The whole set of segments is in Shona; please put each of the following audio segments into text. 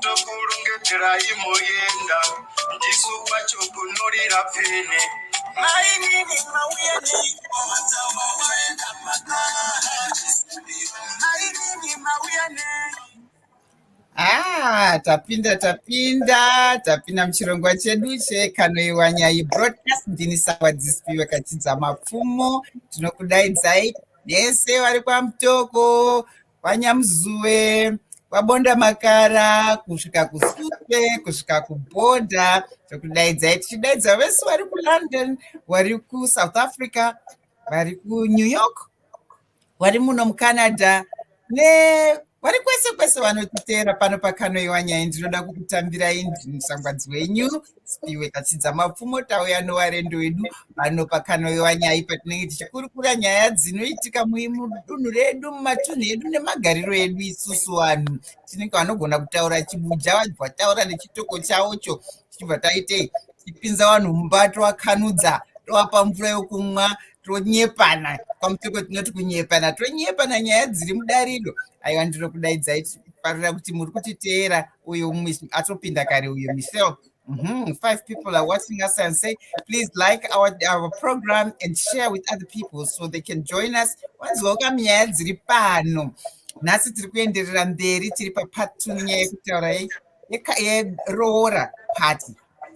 tokurongedzerai moyenda ndisu wacho kunorira pfene mainini mauya neimainini mauya nei Ah, tapinda tapinda tapinda muchirongwa chedu chekanoiwa nyai broadcast ndini sawa dzisipiwe kachidza mapfumo tinokudaidzai nese vari kwamutoko vanyamuzuwe vabonda makara kusvika kusupe kusvika kubhodha zvokudaidzai tichidaidza vese vari kulondon vari kusouth africa vari kunew york vari muno mucanada ne vari kwese kwese vanotiteera pano pakanoiwa nyaya ndinoda kukutambirai ndini musangwadzi wenyu Spiwe Katsidza Mapfumo tauya nowarendo wedu pano pakanoiwa nyaya patinenge tichikurukura nyaya dzinoitika mudunhu redu mumatunhu edu nemagariro edu isusu vanhu tinenge vanogona kutaura chibuja vabva taura nechitoko chavocho tichibva taitei tichipinza vanhu mumba tovakanudza tovapa mvura yokumwa tonyepana kwamutoko tinoti kunyepana tonyepana nyaya dziri mudariro aiwa ndinokudaidza farira kuti muri kutiteera uyo atopinda kare uyo michelle Mm -hmm. Five people are watching us and say, please like our, our program and share with other people so they can join us. Wanzwoka nyaya dziri pano. Nhasi tiri kuenderera mberi tiri papart two nyaya yekutaura yeroora party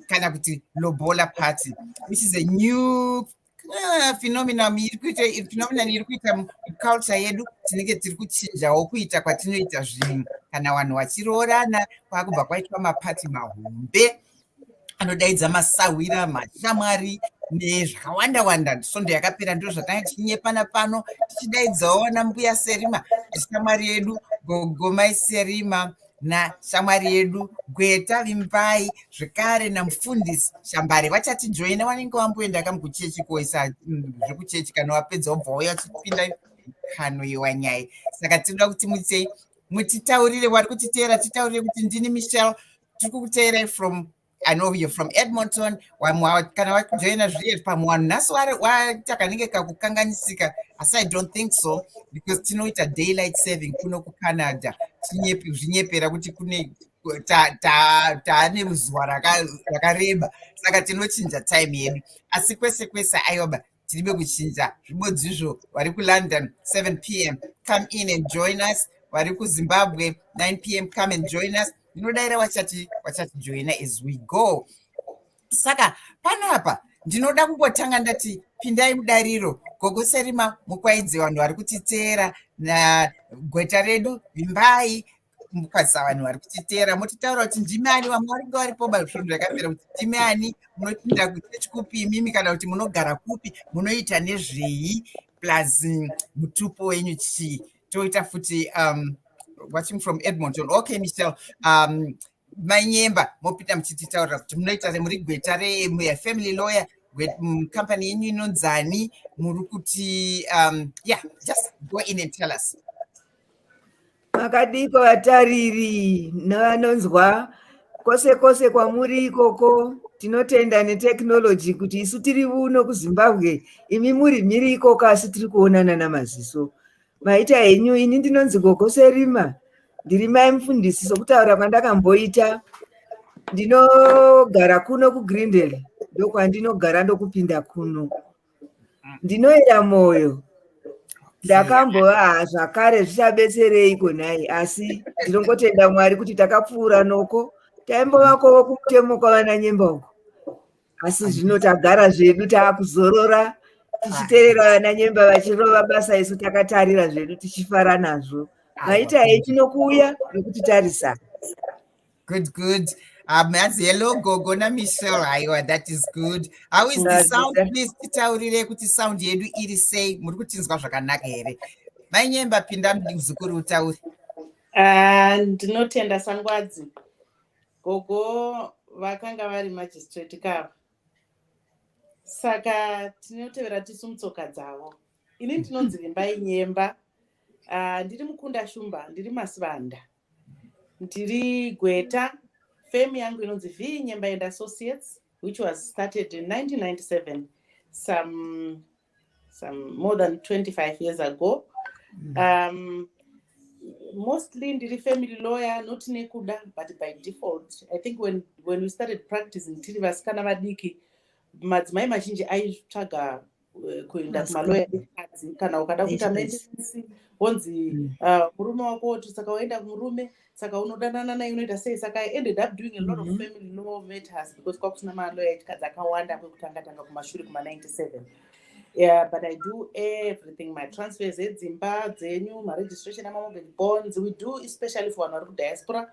kana kuti lobola party which is a new Ah, phenomenon iri kuita phenomenon iri kuita culture yedu tinenge tiri kuchinjawo kuita kwatinoita zvinhu kana vanhu vachiroorana kwakubva kwaitwa mapati mahombe anodaidza masahwira mashamwari nezvakawanda wanda svondo yakapera ndiro zvatanga tichinyepana pano tichidaidzawo ana mbuya serima shamwari yedu gogomai serima nashamwari yedu gweta vimbai zvekare namufundisi shambare vachatijoina vanenge vamboenda kam kuchechi koisa mm, zvekuchechi kana wapedza wobva wauya wachipinda kano yewanyaya saka tinoda kuti mutsei mutitaurire wari kutiteera titaurire kuti ndini michel tiri kukuteerai from I know you're from Edmonton. Kana wajoina zviye pamwe wanhu nhasi waita kanenge kakukanganisika asi I don't think so because tinoita daylight saving kuno kuCanada zvinyepera kuti kune taane ruzuva rakareba saka tinochinja time yedu asi kwese kwese ayoba tiribe kuchinja zvibodzizvo vari kulondon 7 pm come in and join us vari kuzimbabwe 9 pm come and join us ndinodaira wachati wachatijoina as we go saka panapa ndinoda kungotanga ndati pindai mudariro gogo serima mukwaidze vanhu vari kutiteera nagweta redu vimbai mukwazisa vanhu vari kutiteera motitaura kuti ndimi ani vamwe varinge varipo bazvinhu zvakapera kuti ndimi ani munopinda kuchechi kupi imimi kana kuti munogara kupi munoita nezvei plus mm, mutupo wenyu chii toita futi um, watching from edmonton okay michel um, mainyemba mopinda muchititaurira kuti munoita muri gweta refamily lawyer mm, company yenyu inonzani muri kuti um, yeah just go in and tell us Makadiko vatariri nevanonzwa kwose kwose kwamuri ikoko tinotenda netechnology kuti isu tiri vuno kuzimbabwe imi muri mhiri ikoko asi tiri kuonana namaziso maita henyu ini ndinonzi gogose rima ndiri mai mufundisi sokutaura kwandakamboita ndinogara kuno kugrindel ndokwandinogara ndokupinda kuno ndinoera moyo ndakambovaa zvakare zvichabetsereiko nhai asi ndinongotenda mwari kuti takapfuura noko taimbovakovo kumutemo kwavana nyemba uko asi zvino tagara zvedu taakuzorora tichiterera vana nyemba vachirova basa isu takatarira zvedu tichifara nazvo maita hei tinokuuya nekuti tarisa Good, good. Um, as hello, Gogo na Michelle. Aiwa, that is good. How is the sound? Please titaurire kuti sound yedu iri sei. Muri kutinzwa zvakanaka here? Mai Nyemba pinda muzukuru utaure. Ah, ndinotenda Sangwadzi. Gogo vakanga vari magistrate kava. Saka tinotevera tisu mutsoka dzavo. Ini ndinonzi Vimbai Nyemba. Ah, ndiri mukunda Shumba, ndiri Masivanda. ndiri gweta fame yangu inonzi v nyemba and associates which was started in 1997 some, some more than 25 years ago mm. um, mostly ndiri family lawyer not nekuda but by default i think when, when we started practicing tiri vasikana vadiki madzimai mazhinji aitsvaga eh, kuenda kumaloya ekadzi kana ukada kuita mendenansi wonzi mm. ah, murume wako woti saka waenda kumurume saka unodanana naye unoita sei saka i ended up doing a lot of mm-hmm. family law matters because kwakusina maloya ekadzi akawanda kwekutanga tanga kumashure kuma 97 yeah but i do everything my transfers edzimba dzenyu maregistration amamobile bonds we do especially for vanhu vari kudiaspora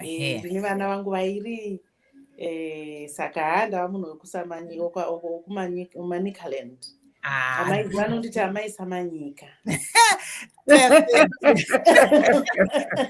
eh, ini vana vangu vairi eh, saka haa ndava munhu wekumanikaland ah. amai vanonditi amai samanyika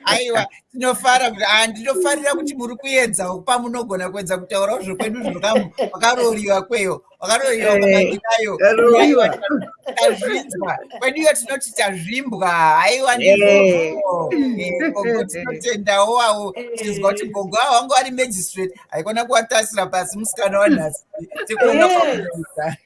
aiwa tinofara kuti ah, ndinofarira kuti muri kuedza pamunogona kuedza kutaurawo zvokwedu zvakarooriwa kweyo vakatoiroaaiwazvinzwa kweduyo tinoti tazvimbwa haiwa ndinotendawo wawo tinzwa kuti gogo awo wanga wari magistrate haikona kuwatasira pasi musikana wanhasi tikuona kwakuisa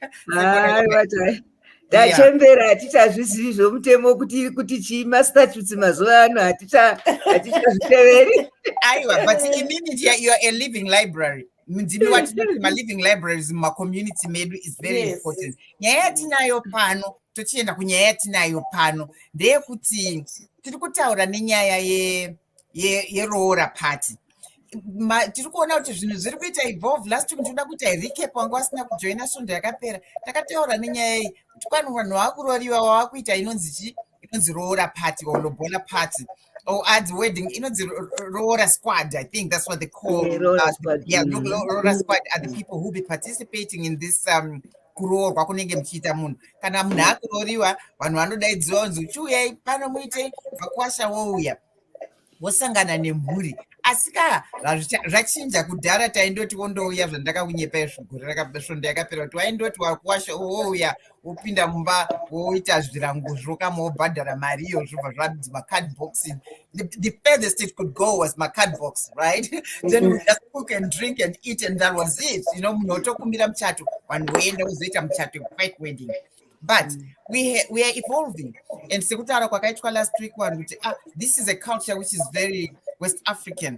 tachembera hatichazvizivi zvomutemo kuti kuti chii mastatutes mazuva ano hatichazviteveri aiwa but imini youare a living library mudzivi watinoti maliving libraries mumacommunity medu is very yes. important nyaya yatinayo pano tochienda kunyaya yatinayo pano ndeyekuti tiri kutaura nenyaya yeroora ye, ye party tiri kuona kuti zvinhu zviri kuita evolve last week ndinoda kuita recap wangu wasina kujoina svondo yakapera takataura nenyaya iyi kuti kwani vanhu vakurooriwa wavakuita inonzi chii inonzi roora party or lobola party Oh, ads wedding. You know, the Rora squad. I think that's what they call. Yeah, Rora uh, squad. Yeah, mm. Rora squad are the people who be participating in this um, kuroorwa kunenge muchiita munhu kana munhu akurooriwa vanhu vanodaidziwa kunzi chiuyai pano muite vakwasha wouya wosangana nemhuri asi ka zvachinja kudhara taindoti wondouya zvandakakunyepa izvigore rakasvondo yakapera kuti waindoti wakuwasha wouya oh, wopinda mumba woita zvirango zvokama wobhadhara mari iyo zvobva zvanzi macard boxing the, the furthest it could go was macard box right then we just cook and drink and eat and that was it you know munhu wotokumbira muchato vanhu voenda wozoita muchato fake wedding but mm. we, we are evolving and sekutaura kwakaitwa last week vanhu kuti ah, this is a culture which is very west african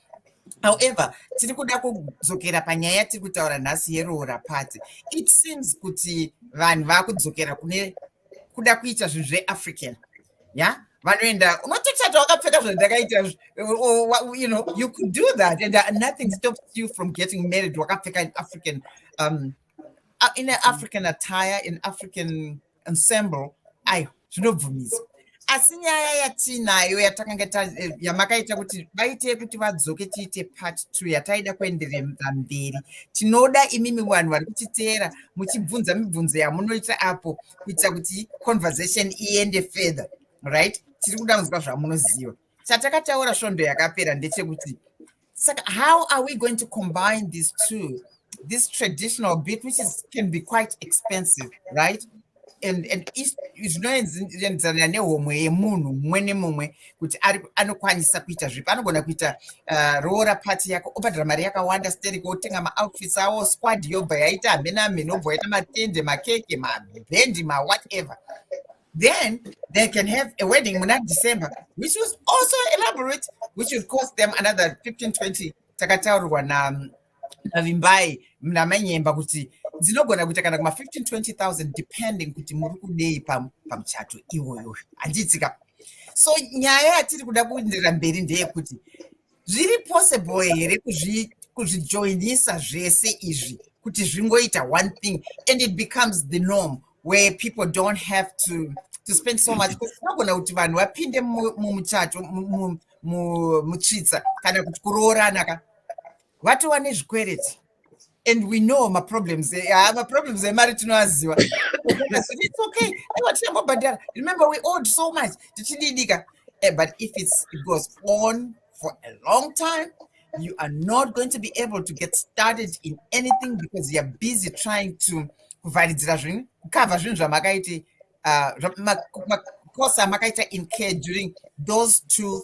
however tiri kuda kudzokera panyaya yatiri kutaura nhasi yeroora party it seems kuti vanhu vakudzokera kune kuda kuita zvinhu zveafrican ya vanoenda unotochata wakapfeka zvandakaita you know you could do that and uh, nothing stops you from getting married wakapfeka in african um, uh, in an african attire in african ensemble ayo zvinobvumisa asi nyaya yatiinayo yatakanga eh, yamakaita kuti vaite kuti vadzoke tiite part two yataida kuenderera mberi tinoda imimi vanhu vari kutiteera muchibvunza mibvunzo yamunoita apo kuitira kuti conversation iende further right tiri kuda kunzwa zvamunoziva chatakataura svondo yakapera ndechekuti saka how are we going to combine these two this traditional bit which is, can be quite expensive right and and zvinoenzana nehomwe yemunhu mumwe nemumwe kuti ari anokwanisa kuita zvipi anogona kuita uh, roora pati yako obhadhara mari yakawanda steriko otenga maoutfits awo squad yobva yaita hamena hamena obva yaita matende makeke mabhendi mawhatever then they can have a wedding muna december which was also elaborate which would cost them another 15 20 takataurwa navimbai namanyemba kuti dzinogona kuita kana kuma 15 20000 depending kuti muri kudei pamuchato iwoyo handiitsika so nyaya yatiri kuda kuendera mberi ndeyekuti zviri possible here kuzvijoinisa zvese izvi kuti zvingoita one thing and it becomes the norm where people don't have to to spend so much tinogona kuti vanhu vapinde mumuchato mutsvitsa kana kuti kuroorana ka vatova nezvikwereti and we know maproblems eh, ah, maproblems emari eh, tinoaziva it's okay aiwa tichangobhadhara remember we owed so much tichididika eh, but if it's, it goes on for a long time you are not going to be able to get started in anything because you're busy trying to kuvharidzira zvinhu kukavha zvinhu zvamakaiti uh, makosa amakaita incare during those two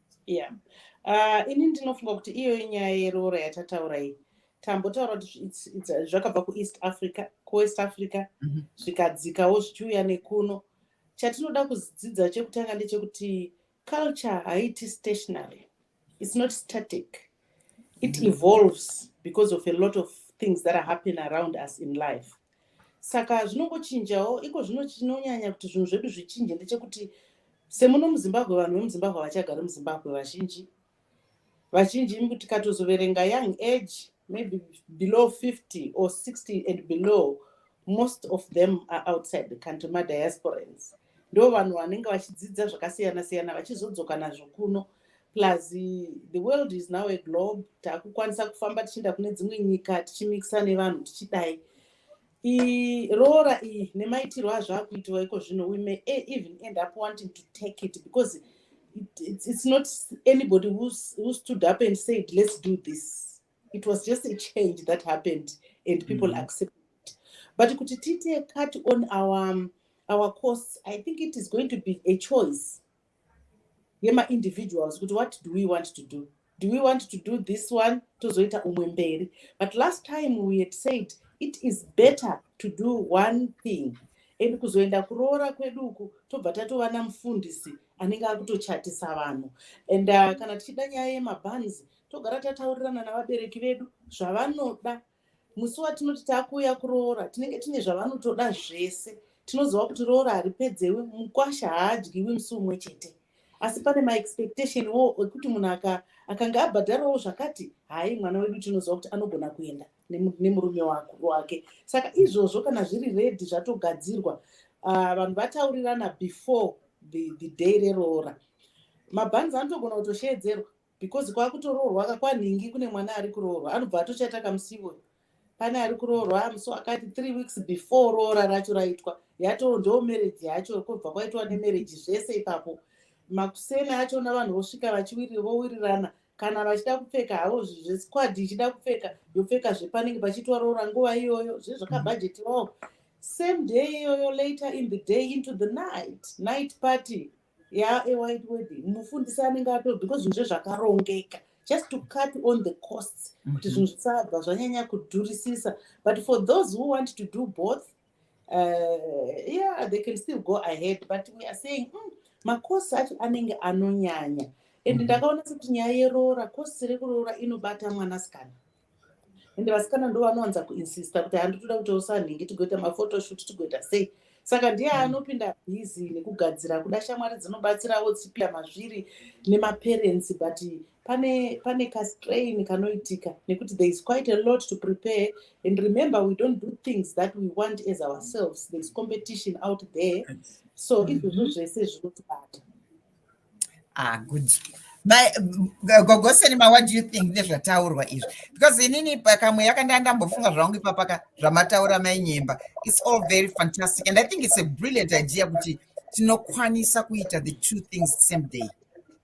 yeah uh, ini ndinofunga kuti iyo inyaya yeroora yatataura iyi tambotaura kuti zvakabva kueast africa kuwest africa mhm. zvikadzikawo zvichiuya nekuno chatinoda kudzidza chekutanga ndechekuti culture haiti stationary its not static it mhm. evolves because of a lot of things that are happen around us in life saka zvinongochinjawo iko zvino chinonyanya kuti zvinhu zvedu zvichinje ndechekuti semuno muzimbabwe vanhu vemuzimbabwe havachagari muzimbabwe vazhinji vazhinji imi kuti katozoverenga young age maybe below 50 or 60 and below most of them are outside the country madiasporans ndo vanhu vanenge vachidzidza zvakasiyana siyana vachizodzoka nazvo kuno plus the world is now a globe takukwanisa kufamba tichienda kune dzimwe nyika tichimikisa nevanhu tichidai roora iyi nemaitiro azvo akuitiwa iko zvino we may e, even end up wanting to take it because it's not anybody who stood up and said let's do this it was just a change that happened and people mm. accepted it but kuti tiite cut on our um, our costs i think it is going to be a choice yemaindividuals kuti what do we want to do do we want to do this one tozoita umwe mberi but last time we had said it is better to do one thing and kuzoenda kuroora kwedu uku tobva tatova namufundisi anenge akutochatisa vanhu and uh, kana tichida nyaya yemabanzi togara tataurirana navabereki vedu zvavanoda musi watinoti takuuya kuroora tinenge tine zvavanotoda zvese tinoziva kuti roora haripedzewi mukwasha haadyiwi musi umwe chete asi pane maexpectation wo ekuti munhu akanga abhadharawo zvakati hai mwana wedu tinoziva kuti anogona kuenda nemurume wake saka izvozvo kana zviri redi zvatogadzirwa ah, vanhu vataurirana before the day reroora mabhanzi anotogona kutosheedzerwa because kwakutoroorwa ka kwanhingi kune mwana ari kuroorwa anobva atochata kamusivo pane ari kuroorwa amuso akati three weeks before roora racho raitwa yatoo ndoo marriage yacho kobva kwaitwa nemarriage zvese ipapo makuseni achona vanhu vosvika vachiwirira vowirirana kana vachida kupfeka havo zvesquad ichida kupfeka yopfeka zvepanenge pachitwa roora nguva iyoyo zve zvakabhajetiwawo same day iyoyo later in the day into the night night party ya a white wedding mufundisi anenge ato because zvinhu zvezvakarongeka just to cut on the costs kuti mm -hmm. zvinhu zvisabva zvanyanya kudhurisisa but for those who want to do both uh, yeah they can still go ahead but we are saying mm, makosi acho anenge anonyanya and mhm. ndakaona sekuti nyaya yeroora kosi rekuroora inobata mwanasikana ende vasikana ndo vanowanza kuinsista kuti handi toda kuti usanhingi tigoita mafotoshut tigoita sei saka ndiye mm. anopinda bhizi nekugadzira kuda shamwari dzinobatsirawo tsipia mazviri nemaparensi but pane pane kastrain kanoitika nekuti there is quite a lot to prepare and remember we don't do things that we want as ourselves there is competition out there so mm-hmm. izvozvo zvese zvinotibata ah good gogosenima what do you think nezvataurwa izvi because inini pakamwe yakandanga ndambofunga zvangu ipapaka zvamataura mainyemba its all very fantastic and i think its a brilliant idea kuti tinokwanisa kuita the two things the same day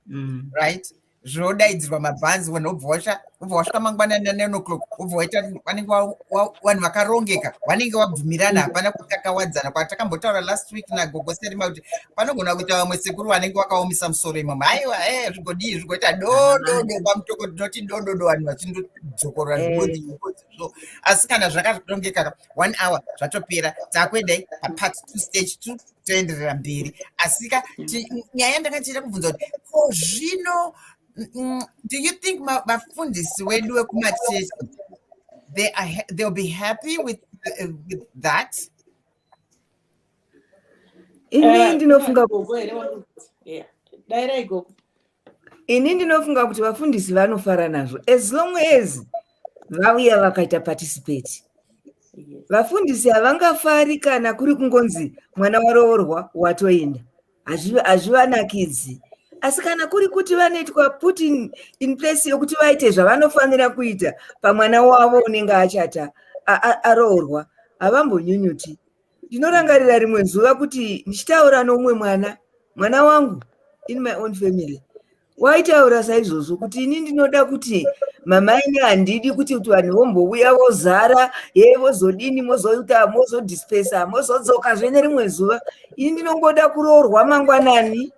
mm. right zvodaidzirwa mabhanzi vanhu obva washa obva wasvika mangwana nanine o'clock obva waita vanenge vanhu vakarongeka vanenge vabvumirana hapana kutakawadzana kwatakambotaura last week nagogo serima kuti panogona kuita vamwe sekuru vanenge vakaomisa musoro imomo haiwa e eh, zvigodii zvigoita dododo pamutoko tinoti dododo vanhu vachindodzokorora eh. zvigodii so asi kana zvakarongeka one hour zvatopera takuendai papart two stage two toenderera mberi asika mm. nyaya yandakachita kubvunza kuti ko zvino mm, mm, do you think vafundisi wedu wekumachechi they are they'll be happy with, uh, with that ini eh, ndinofunga dai raigoku ini ndinofunga kuti vafundisi vanofara nazvo as long as vauya vakaita participate vafundisi havangafari kana kuri kungonzi mwana waroorwa watoenda hazvivanakidzi asi kana kuri kuti vanoitwa put in, in place yokuti vaite zvavanofanira kuita pamwana wavo unenge achata aroorwa havambonyunyuti ndinorangarira rimwe zuva kuti ndichitaura noumwe mwana mwana wangu in my own family waitaura saizvozvo kuti ini ndinoda kuti mama ini handidi kuti kuti vanhu vombouya vozara ye vozodini mozoita mozodispesa mozodzoka zvene rimwe zuva ini ndinongoda kuroorwa mangwanani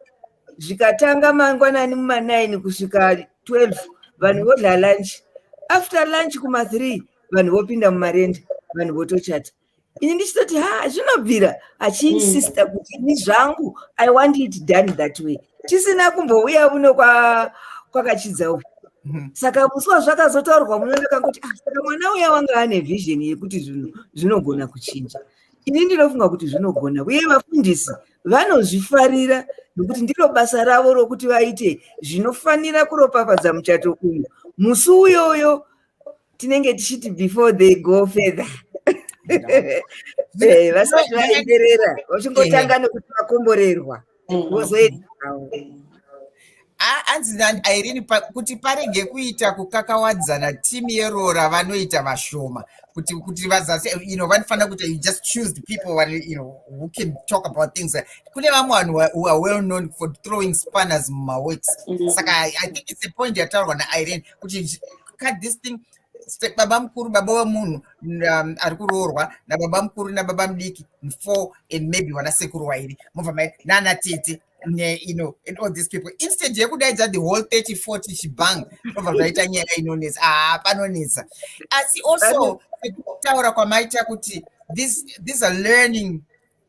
zvikatanga mangwanani mumanaini kusvika 12 vanhu vodla lunch after lunch kuma3 vanhu vopinda mumarenda vanhu votochata ini ndichitoti ha zvinobvira achiinsista mm. kuti ini zvangu i want it done that way tisina kumbouya uno kwakachidza uku mm-hmm. saka musi wazvakazotaurwa muno ndakangoti ah, saka mwana uya wanga ane vision yekuti zvinhu zvinogona kuchinja ini ndinofunga kuti zvinogona uye vafundisi vanozvifarira nokuti ndiro basa ravo rokuti vaite zvinofanira kuropafadza muchato uyu musi uyoyo tinenge tichiti before they go further eh, vasati vaenderera vachingotanga eh. nekuti vakomborerwa mm. vozoendawo anzi nairini kuti parege kuita kukakawadzana timu yeroora vanoita vashoma kuti kuti vazasi you know vanofanira kuti you just choose the people who, you know, who can talk about things kune vamwe vanhu who are well known for throwing spanners mumaworks mm-hmm. saka i think it's a point yataurwa nairene kuti cut this thing baba mukuru baba wemunhu um, ari kuroorwa nababa mukuru nababa mudiki four and maybe vana sekuru wairi mobva mai nana tete you know and all these people instead yekudaidza the whole 30 40 chibang zvobva zvaita nyaya inonetsa aa ah, panonetsa asi also kutaura kwamaita kuti these are learning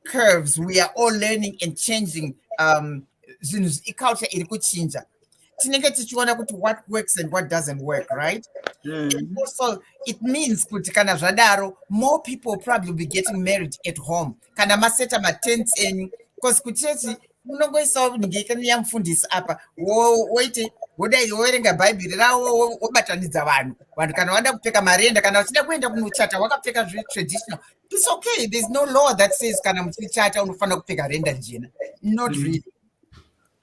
curves we are all learning and changing um, zvinhu iculture iri kuchinja tinenge tichiona kuti what works and what doesn't work right mm. and also it means kuti kana zvadaro more people probably be getting married at home kana maseta matents enyu because kuchechi unongoisawo ningekani yamufundisi apa woite wodai woverenga bhaibheri rawo wobatanidza vanhu vanhu kana wada kupfeka marenda kana vachida kuenda kunochata wakapfeka zvetraditional it's okay there's no law that says kana muchichata unofanira kupfeka renda jena not mm. really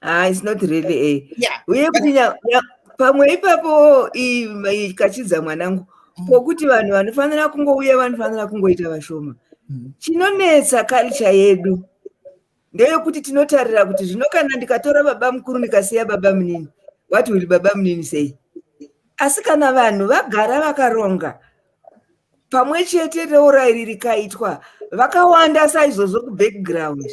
ah it's not really a eh. yeah uye kuti pamwe ipapo ikachidza mwanangu mm. pokuti vanhu vanofanira kungouya vanofanira kungoita vashoma mm. chinonetsa culture yedu ndeyokuti tinotarira kuti zvino kana ndikatora baba mukuru ndikasiya baba munini what will baba munini sei asi kana vanhu vagara vakaronga pamwe chete reurai riri kaitwa vakawanda saizvozvo kubackground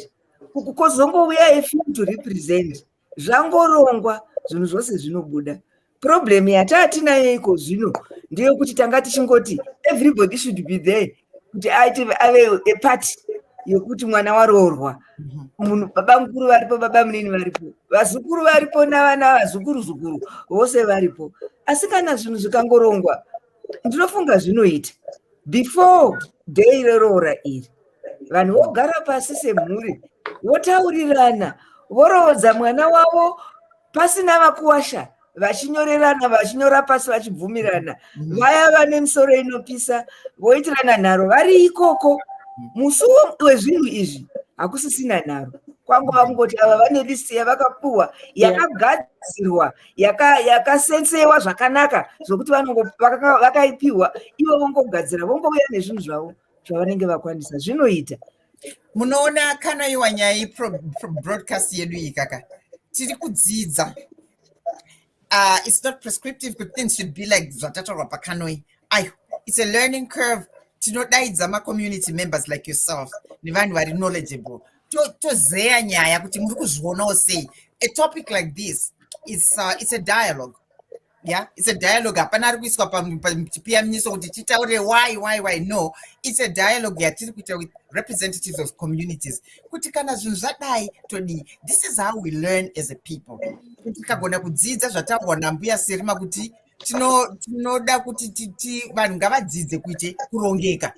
uku kozongouya efim to represent zvangorongwa zvinhu zvose zvinobuda problem yataatinayo iko zvino ndeyokuti tanga tichingoti everybody should be there kuti aite ave eparty yekuti mwana waroorwa mhm. munhu baba mukuru varipo baba munini varipo vazukuru varipo navana vazukuru zukuru vose varipo asi kana zvinhu zvikangorongwa ndinofunga zvinoita before day reroora iri vanhu vogara pasi semhuri votaurirana voroodza mwana wavo pasina vakuwasha vachinyorerana vachinyora pasi vachibvumirana mm. vaya vane misoro inopisa voitirana nharo vari ikoko mm. musi wezvinhu izvi hakusisina nharo kwangova kungoti ava vane list yavakapuhwa yakagadzirwa yakasetsewa yaka zvakanaka zvokuti vakaipiwa vaka ivo vongogadzira vongouya nezvinhu zvavo zvavanenge vakwanisa zvinoita munoona kana iwa nyaya yebroadcast yedu iyi kaka tiri kudzidza uh, it's not prescriptive kuti things should be like zvatatorwa pakanoi i it's a learning curve tinodaidza macommunity members like yourself nevanhu vari knowledgeable tozeya nyaya kuti muri kuzvionawo sei a topic like this it's, uh, it's a dialogue yeah it's a dialogue hapana ari kuiswa pachipiyaminiso kuti titaure why why why no it's a dialogue yatiri kuita with representatives of communities kuti kana zvinhu zvadai todii this is how we learn as a people kuti tikagona kudzidza zvataurwa nambuya serima kuti tinoda kuti vanhu ngavadzidze kuite kurongeka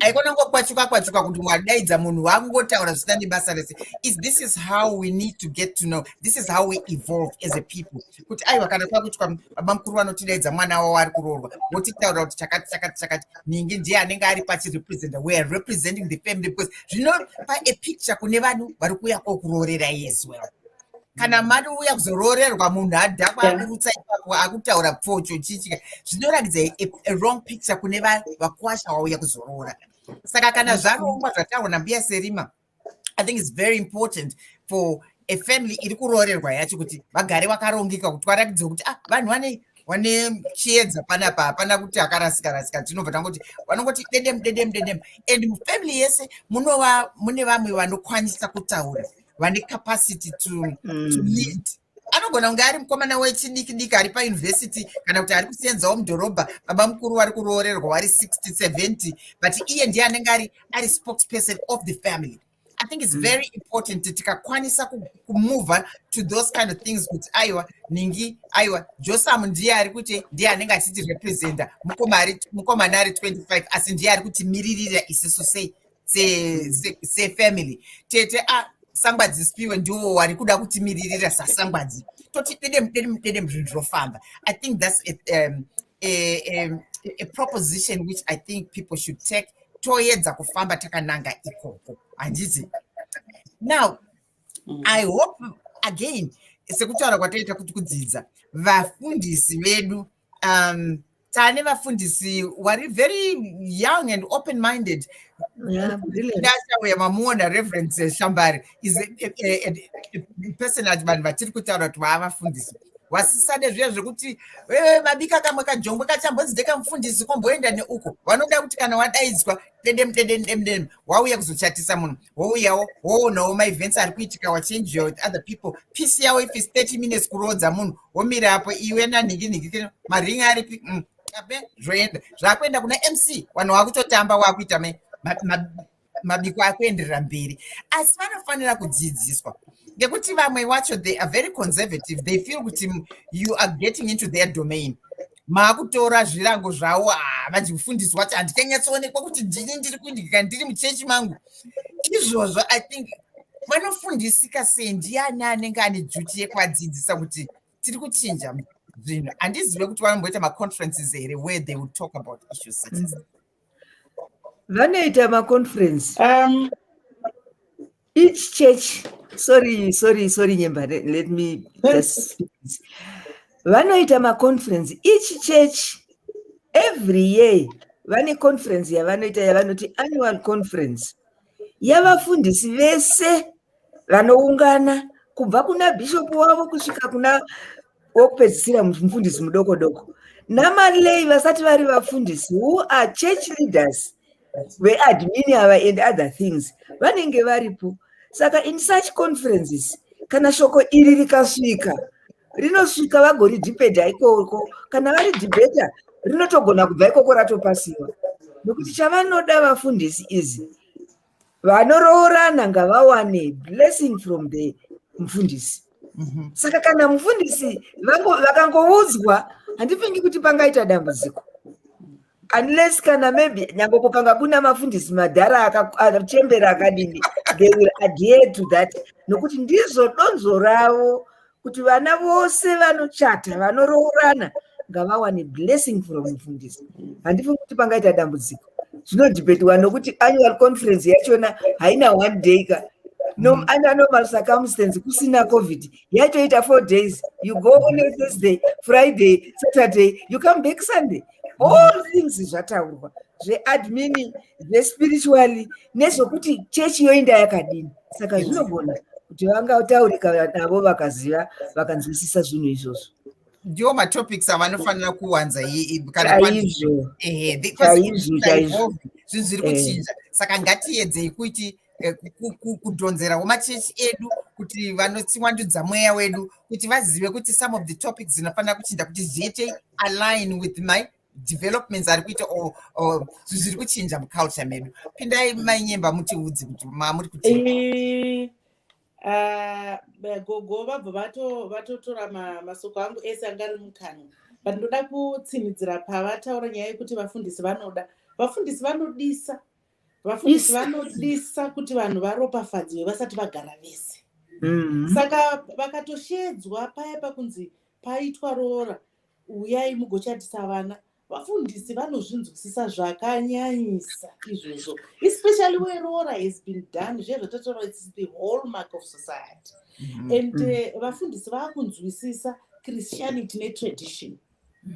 haikona kukwachuka kwachuka kuti wadaidza munhu wakungotaura zvisina nebasa rese is this is how we need to get to know this is how we evolve as a people kuti aiwa kana kwakuitwa baba mukuru vanotidaidza mwana wavo ari kuroorwa votitaura kuti chakati chakati chakati ningi ndiye anenge ari pachirepresenta we are representing the family because zvinopa a picture kune vanhu vari kuuya kokuroorera as well kana mari uya kuzoroorerwa munhu adhakwa akurutsa ipapo akutaura pfocho chichika zvinoratidza wrong picture kune vakwasha wauya kuzoroora saka kana zvarongwa zvataurwa nambuya serima i think its very important for a family iri kuroorerwa yacho kuti vagare vakarongeka kuti varatidze kuti ah vanhu vane wane chiedza panapa hapana kuti akarasika rasika tinobva tangoti vanongoti dedem dedem dedem and mufamily yese munova mune vamwe vanokwanisa kutaura vane capacity to, mm. to lead anogona kunge ari mukomana wechidiki diki ari pauniversity kana kuti ari kusenzawo mudhorobha baba mukuru wari kuroorerwa wari 60 70 but iye ndiye anenge ari ari spokesperson of the family i think it's mm. very important tikakwanisa kumova to those kind of things kuti aiwa ningi aiwa josam ndiye ari kuti ndiye anenge achiti representa mukomana ari 25 asi ndiye ari kutimiririra isisu sei sefamily tete a sangwadzi spiwe ndiwo wari kuda kutimiririra sasangwadzi toti dedem dedem dedem zvinhu zvinofamba i think thats a, um, a, a, a proposition which i think people should take toedza kufamba takananga ikoko handizi now mm. i hope again sekutaura kwataita kuti kudzidza vafundisi vedu um, tane vafundisi wari very young and open minded ndachauya mamuona reverend eh, shambari is a, a, a, a person ati vanhu vatiri kutaura kuti vaavafundisi vasisade zviya zvekuti vabika eh, kamwe kajongwe kachambonzi ndekamufundisi komboenda neuko vanoda kuti kana wadaidzwa dedem dedem dedem dedem wauya kuzochatisa munhu wouyawo woonawo maevents ari kuitika wachange your other people peace yawo if is 30 minutes kuroodza munhu womira apo iwe nanhinginhingi kino maringi aripi mm, abe zvoenda zvakuenda kuna mc vanhu wakutotamba wakuita mabiko akuenderera mberi asi vanofanira kudzidziswa ngekuti vamwe wacho they are very conservative they feel kuti you are getting into their domain maakutora zvirango zvawo havanzi ah, mufundisi wacho handikanyatsoonekwa kuti ndini ndiri kundika ndiri muchechi mangu izvozvo i think vanofundisika sei ndiani anenge ane dzuti yekuvadzidzisa kuti tiri kuchinja zvinhu handizive kuti vanomboita maconferences here where they will talk about issues such as mm. vanoita maconference um, each church sorry sorry sorry nyemba let me just speak this vanoita maconference each church every year vane conference yavanoita yavanoti annual conference yavafundisi vese vanoungana kubva kuna bhishopu wavo kusvika kuna wokupedzisira mufundisi mudoko doko namalei vasati vari vafundisi who are church leaders veadmini ava and other things vanenge varipo saka in such conferences kana shoko iri rikasvika rinosvika vagoridhibhedha ikoko kana vari dhibhedha rinotogona kubva ikoko ratopasiwa nokuti chavanoda vafundisi izi vanoroorana ngavawane blessing from the mufundisi mhm. saka kana mufundisi vakangoudzwa handifingi kuti pangaita dambudziko unless kana maybe nyange kukanga kuna mafundisi madhara akachembera akadini they will adhere to that nokuti ndizvo donzo ravo kuti vana vose vanochata vanoroorana ngavawane blessing from mufundisi handifungi kuti pangaita dambudziko zvinodhibhetiwa nokuti annual conference yachona haina one day ka no mm. under normal circumstance kusina covid yatoita four days you go on a thursday friday saturday you come back sunday all things zvataurwa zveadmin zvespiritually nezvokuti chechi yoinda yakadini saka zvinogona kuti vanga taurika navo vakaziva vakanzwisisa zvinhu izvozvo ndiwo matopics avanofanira kuwanza kanaizvo chaizvo chaizvo zvinhu zviri eh. kuchinja saka ngatiyedzei kuti eh, kudhonzerawo machechi edu kuti vanotiwandudza mweya wedu kuti vazive kuti some of the topics dzinofanira kuchinja kuti zviite align with my developments ari kuita or zviri kuchinja muculture medu pindai mainyemba mutiudzi kuti mamuri kuti eh, Ah, gogo vabva vatotora masoko angu ese anga ari mukanwa but ndoda kutsinidzira pavataura nyaya yekuti vafundisi vanoda vafundisi vanodisa vafundisi vanodisa kuti vanhu varopafadzwe vasati vagara vese mm-hmm. saka vakatoshedzwa paya pakunzi paitwa roora uyai mugochatisa vana vafundisi vanozvinzwisisa zvakanyanyisa izvozvo especially where roora has been done zviya zvatataura its the whole mark of society mm-hmm. and uh, vafundisi vakunzwisisa christianity netradition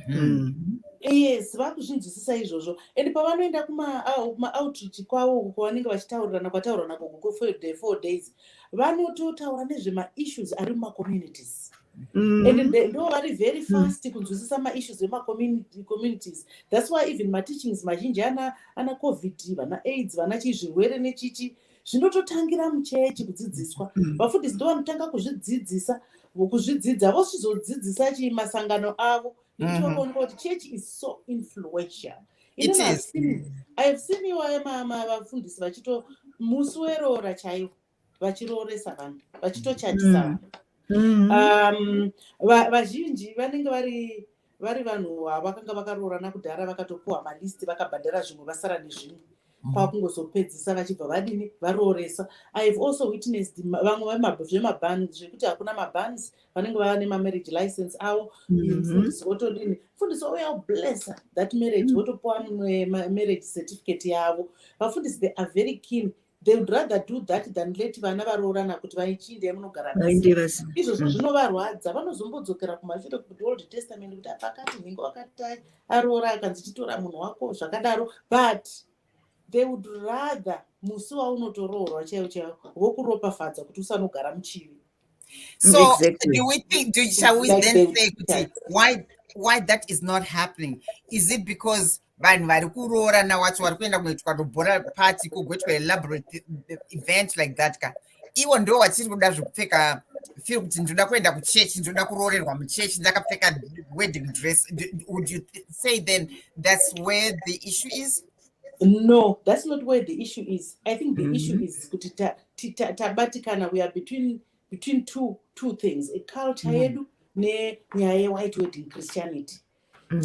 mm-hmm. yes vakuzvinzwisisa izvozvo and pavanoenda kumaoutreach kwavo uko kwavanenge vachitaurirana kwataurirana koko four days vanototaura nezvemaissues ari mumacommunities mm. and ndo vari very mm. fast kunzwisisa maissues emacommunities thats why even mateachings mazhinji ana covid vana aids vana chii zvirwere nechichi zvinototangira muchechi kudzidziswa mm. vafundisi ndo vanotanga kuzvidzidzisa kuzvidzidza vosizodzidzisa chii masangano avo itoonga mm-hmm. kuti chechi is so influential ihave seen iwaye vafundisi vachito musi weroora chaivo vachirooresa vanhu vachitochatisa mm. vanhu mm. um, vazhinji vanenge vari vari vanhu ava vakanga vakaroorana kudhara vakatopuwa malisti vakabhadhara zvimwe vasara nezvimwe mm. kwakungozopedzisa vachibva vadini varooresa ihave also witnessed vamwe zvemabans zvekuti hakuna mabans vanenge vava nemamarriage license avo mm-hmm. mfundisi otodini mfundisi ouya oblessa that marriage mm. votopuwa mumwe marriage certificate yavo vafundisi they are very keen they would rather do that than let vana varoorana kuti vaichiinda yamunogara izvozvo mm. zvinovarwadza vanozombodzokera kumashure kuti old testament kuti apakati nhingi wakatai aroora akanzi chitora munhu wako zvakadaro but they would rather musi waunotoroorwa chaiwo chaiwo vokuropafadza kuti usanogara muchivi so exactly. do we think do, shall we then say kuti why why that is not happening is it because vanhu vari kuroorana wacho vari kuenda kunoitwa robora party kugoitwa elaborate event like that ka ivo ndo vachiri kuda zvekupfeka feel kuti ndinoda kuenda kuchechi ndinoda kuroorerwa muchechi ndakapfeka wedding dress would you say then that's where the issue is no that's not where the issue is i think the mm -hmm. issue mm-hmm. is kuti tabatikana we are between between two two things a culture mm. yedu nenyaya yewhite wedding christianity mm.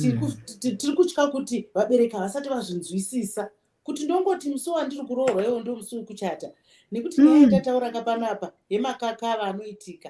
tiri kutya kuti vabereki havasati vazvinzwisisa kuti ndongoti musi wandiri kuroorwa iwo ndo musi wekuchata nekuti nyaya mm. yatatauraka panapa yemakakava anoitika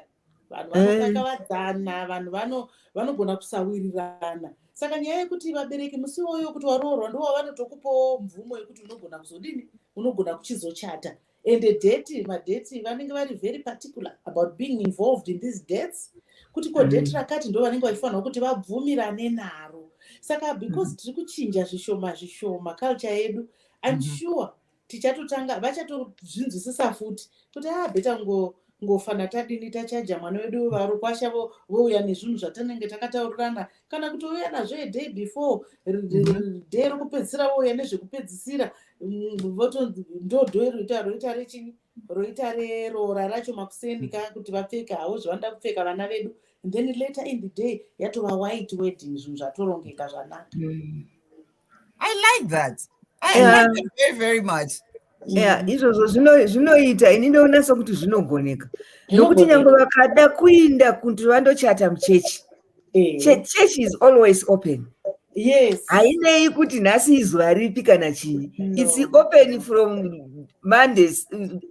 vanhu vanokakavadzana eh. vanhu vanogona kusawirirana saka nyaya yekuti vabereki musi woyo kuti waroorwa ndo wavanotokupawo mvumo yekuti unogona kuzodini unogona kuchizochata and date madate vanenge vari very particular about being involved in these dates kuti ko mm. date rakati ndo vanenge vachifanirwa kuti vabvumirane naro saka because mm. tiri kuchinja zvishoma zvishoma culture yedu im mm-hmm. sure tichatotanga vachatozvinzwisisa futi kuti a ah, beta ngo ngofana tadini tachaja mwana wedu vari kwasha vouya nezvinhu zvatanenge takataurirana kana kutouya nazvo eday before mhm. day rokupedzisira vouya nezvekupedzisira mm, votonzi ndodho iroita roita rechini roita reroora racho makuseni ka mhm. kuti vapfeka havo zvavanoda kupfeka vana vedu then later in the day yatova white wedding zvinhu zvatorongeka zvanaka mm. i like that i yeah. like that very very much yeah izvozvo zvinoita ini ndoona sokuti zvinogoneka nokuti nyange vakada kuinda kuti vandochata muchechi eh. chechi is always open yes hainei kuti nhasi izuva ripi kana chii no. its open from monday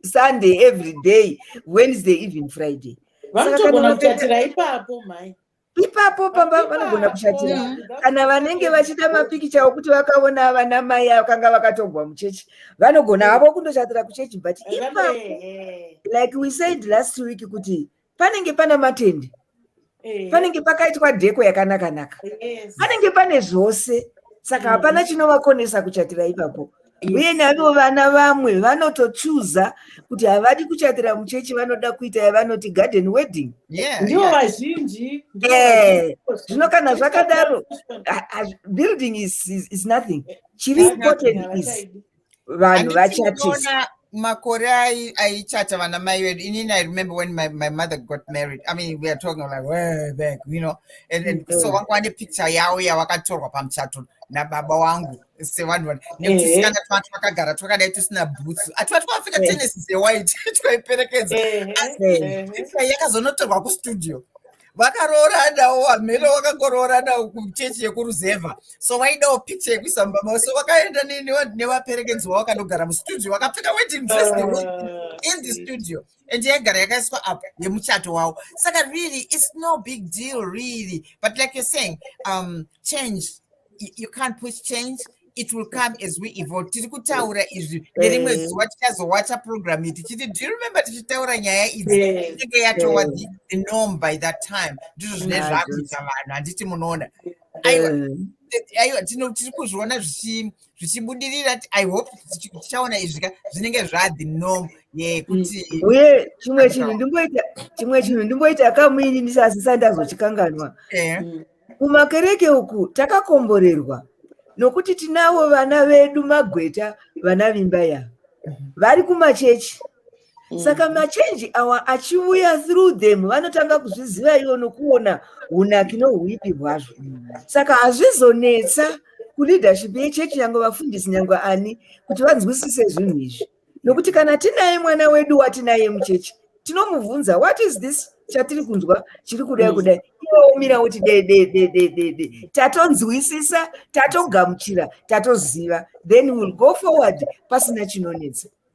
sunday every day wednesday even friday vanotogona kutatira ipapo mhai ipapo pamba vanogona kushatira mm. kana vanenge vachida mapikicha okuti vakaona vana mai vakanga vakatongwa muchechi vanogona havo kundoshatira kuchechi but ipapo eh. like we said last week kuti panenge pana matende eh. panenge pakaitwa dheko yakanakanaka panenge pane zvose saka mm. hapana chinovakonesa kuchatira ipapo uye naivo vana vamwe vanotochuza kuti havadi kuchatira muchechi vanoda kuita yavanoti garden wedding ndivo vazhinji eh, zvino kana zvakadaro building is, is, is nothing chiri important is vanhu vachatisa makore aichata vana mai vedu inini i remember when my, my mother got married i mean we are talking like way back you know and, and so mm-hmm. vanga vane picture yavo yavakatorwa pamuchato nababa wangu sevanhu vana nekuti sikana twa twakagara twakadai tusina bhutsu atwa twafika tenesi dzewhite twaiperekedza asi yakazonotorwa kustudio vakarooranawo hamhele wakangorooranawo kuchechi yekuruzevha so vaidawo picture yekuisa mubaba so vakaenda nevaperekedzi wavo wakanogara mustudio vakapfeka wedding dress in the studio and yaigara yakaiswa up yemuchato wawo saka really it's no big deal really but like you're saying um, change you can't push change it will come as we evolve tiri kutaura izvi nerimwe eh. zuva tichazowacha program iyi tichiti do you remember tichitaura nyaya idzi eh. inenge yatova eh. the norm by that time ndizvo zvine zvakuita vanhu handiti munoona aiwa tiri kuzviona zvichi zvichibudirira i hope tichaona izvi ka zvinenge zvadi nom ye kuti mm. uye chimwe chinhu ndimboita chimwe chinhu ndimboita kamuini ndisazisa ndazochikanganwa eh. mm. kumakereke uku takakomborerwa nokuti tinavo vana vedu magweta vana vimba ya mm-hmm. vari kumachechi mm. saka machenji awa achiuya through them vanotanga kuzviziva ivo nokuona unaki nouipi hwazvo saka hazvizonetsa kuleadership yechechi nyange vafundisi nyange ani kuti vanzwisise zvinhu izvi nokuti kana tinaye mwana wedu watinaye muchechi tinomubvunza what is this chatiri kunzwa chiri kudai mm. kudai iwoomira woti dededededede tatonzwisisa tatogamuchira tatoziva then will go forward pasina chinonetsa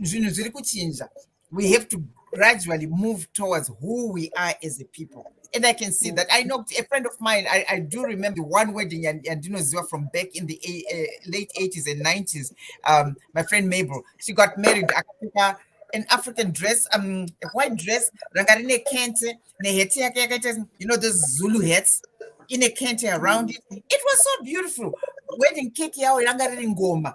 zvinhu zviri kuchinja we have to gradually move towards who we are as a people and i can see that i know a friend of mine i, I do remember one wedding and, and you know ziwa from back in the uh, late 80s and 90s um, my friend mabel she got married akapfeka an african dress um, a white dress ranga rine kente neheti yake yakaita you know those zulu hats in a kente around it it was so beautiful wedding cake yawo yanga riri ngoma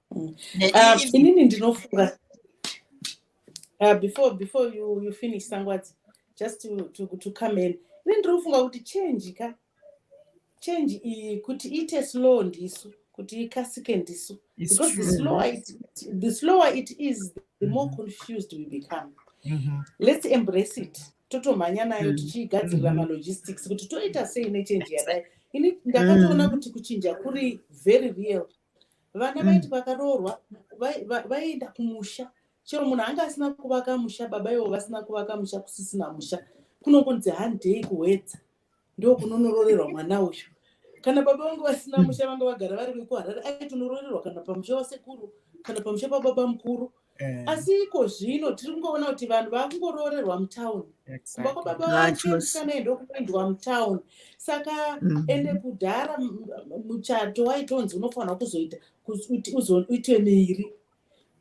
Mm. Ah, inini ndinofunga ah, before before you, you finish sangwadzi just to, to, to come in ini ndinofunga kuti change ka change iyi kuti iite slow ndisu kuti ikasike ndisu because the slower, it, the slower it is the more mm-hmm. confused we become mm -hmm. let's embrace it totomhanya nayo mm-hmm. tichiigadzirira mm-hmm. malogistics kuti toita sei nechange yadai ini ndakatoona kuti kuchinja kuri very real vana mm. vaiti vakaroorwa vaienda kumusha chero munhu anga asina kuvaka musha baba ivo vasina kuvaka musha kusisina musha kunongonzi handei kuwedza ndo kunonororerwa mwana uyu kana baba vangu vasina musha vanga vagara vari vekuharare aitonoroererwa kana pamusha wasekuru kana pamusha pababa mukuru pa Eh. asi iko zvino tiri kungoona kuti vanhu vakungoroorerwa mutown kumba kwababa vachemusana ende kuendwa mutown saka mm. ende kudhara muchato waitonzi unofanira kuzoita kuti uzoitwe miiri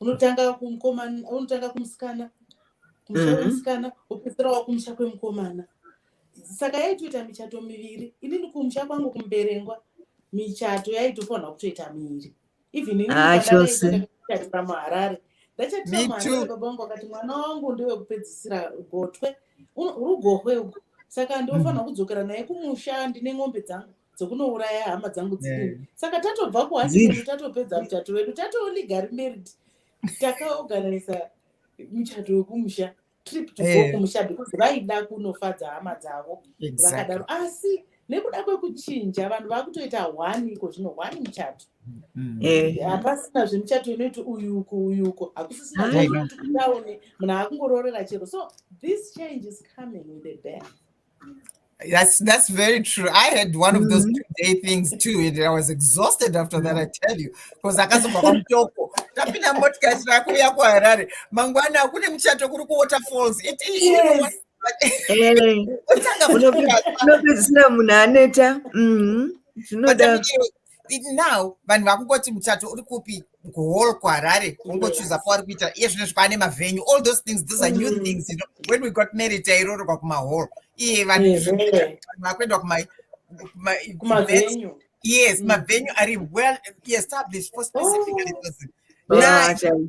unotanga kumukomana unotanga kumusikana kumusha mm-hmm. kwemusikana wopedzisira wakumusha kwemukomana saka yaitoita michato miviri inini kumusha kwangu kumuberengwa michato yaitofanira kutoita miiri even ini Ah, pandadai chose. kuenda kuchurch pamuharare ndachati Me pamuharare too. baba vangu vakati mwana wangu ndiwe kupedzisira gotwe Uno- rugohwe ugo saka ndinofanirwa kudzokera naye kumusha ndine n'ombe dzangu dzokunouraya hama dzangu dzidini Yeah. saka tatobva kuhati Dziri. kwedu tatopedza muchato wedu tatolegary married takaorganiza muchato wekumusha trip to go eh. kumusha because vaida kunofadza hama dzavo vakadaro asi nekuda kwekuchinja vanhu vakutoita one iko zvino one muchato mm. eh. hapasina zvemuchato inoiti uyuko uyuko hakusisina zvekuti kudaone munhu akungoroorera chero so this change is coming with a band That's that's very true. I had one of those mm-hmm. day things too, and I was exhausted after that. I mm-hmm. tell you, because akazobva kwamutoko tapinda motikari rakuuya kuharare mangwana kune muchato kuri kuwaterfalls unopedzisira munhu aneta mm-hmm. zvinoda it now vanhu vakungoti muchato uri kupi kuhall kuharare ungochuza pauri kuita iye zvino zvikwane mavenyu all those things these are new mm. things you know, when we got married tairorerwa kumahall iye vanhu vakuenda kuma kumavenyu yes mm. mavenyu ari well established for specifically oh.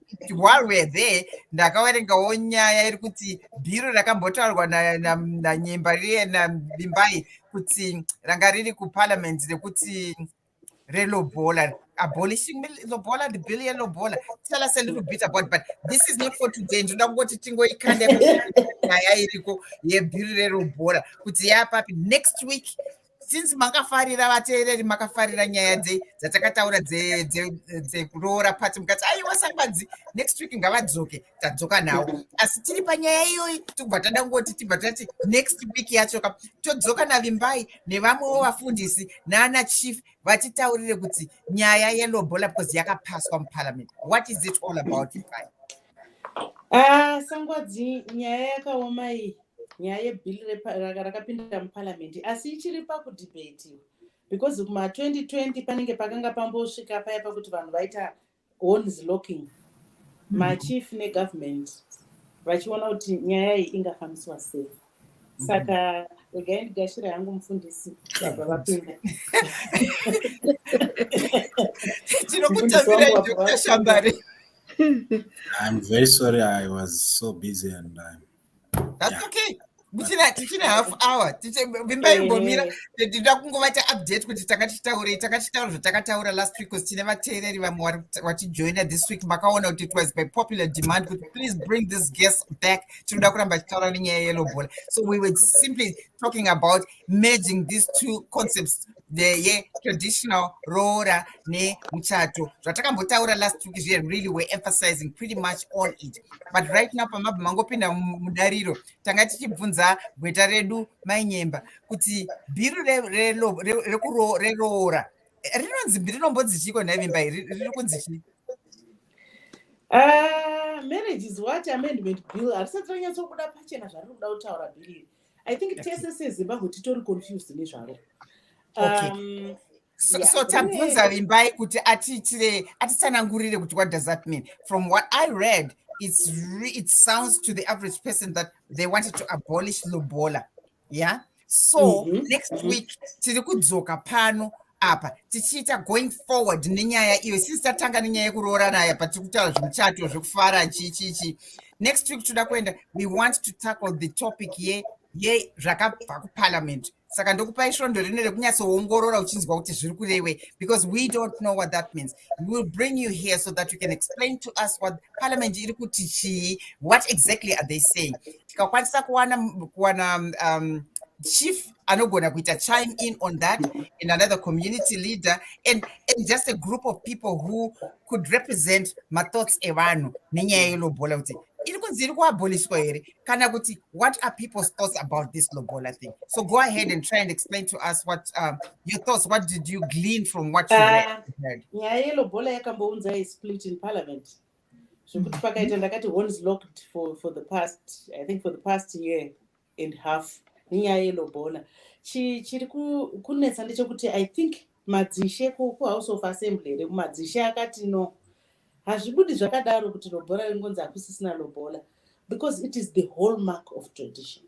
while we're there ndakaverengawo nyaya iri kuti bhiro rakambotaurwa nanyemba riye navimbai kuti ranga riri kuparliament rekuti relobola abolishing lobola the bill yelobola tell us a little bit about but this is not for today ndinoda kungoti tingoikanda nyaya iriko yebhiri relobola kuti yapapi next week since makafarira vateereri makafarira nyaya dzatakataura dzekuroora pati mukati aiwa sambadzi next week ngavadzoke tadzoka nawo asi tiri panyaya iyoyi tobva tada kungoti tibva tati next week yacho ka todzoka navimbai nevamwewo vafundisi naana chief vatitaurire kuti nyaya yelobola because yakapaswa muparliament what is it all about vimbai ah, sangwadzi nyaya yakaoma iyi nyaya yebill rakapinda muparliament asi ichiri pakudebatiwa because kuma 2020 panenge pakanga pambosvika paya pakuti vanhu vaita hones locking mm. machief negovernment vachiona kuti nyaya iyi ingafambiswa sei mm. saka regai ndigashira yangu mufundisi vabva vapinda tinokutaviraiokutashambare I'm very sorry I was so busy and I'm That's okay. Tichina tichina half hour. Tiche vimba imbomira tida kungovata update kuti takachitaurei takachitaura zvatakataura last week kuti tine vateereri vamwe vachijoina this week makaona kuti it was by popular demand kuti please bring this guest back tinoda kuramba tichitaura nenyaya yelobola so we were simply talking about merging these two concepts ye traditional roora nemuchato zvatakambotaura last week zviye really were emphasizing pretty much all it but right now pamabva mangopinda mudariro tanga tichibvunza gweta redu mainyemba kuti bhiru reroora rinonzi rinombonzi chiiko nhaivimba iri riri kunzi chii ah, marriage is what amendment bill harisati ranyatsokuda pachena zvariri kuda kutaura bhiri iri i think tese sezimbabwe titori confused nezvaro um, so, yeah. so tabvunza vimbai kuti atiitire atitsanangurire kuti what does that mean from what i read it's re, it sounds to the average person that they wanted to abolish lobola yeah so mm -hmm. next mm -hmm. week tiri kudzoka pano apa tichiita going forward nenyaya iyo sisi tatanga nenyaya yekuroorana aya patiri kutaura zvemuchato zvekufara chichichi next week toda kuenda we want to tackle the topic ye ye zvakabva kuparliament saka ndokupai svondo rino rekunyatsoongorora uchinzwa kuti zviri kurewei because we don't know what that means we will bring you here so that you can explain to us what parliament iri kuti chii what exactly are they saying tikakwanisa kuwana kuwana um, chief anogona kuita chime in on that and another community leader and, and just a group of people who could represent mathoughts evanhu nenyaya yelobola kuti iri kunzi iri kuaboliswa here kana kuti what are people's thoughts about this lobola thing so go ahead and try and explain to us what um, your thoughts what did you glean from what you ah, heard nyaya yelobola yakambounza isplit in parliament zvekuti pakaita ndakati hones locked for, for the past i think for the past year and half nenyaya yelobola chiri kunetsa ndechekuti i think madzishe kuhouse of assembly here kumadzishe akati no hazvibudi zvakadaro kuti lobola ringonzi hakusisina lobola because it is the whole mark of tradition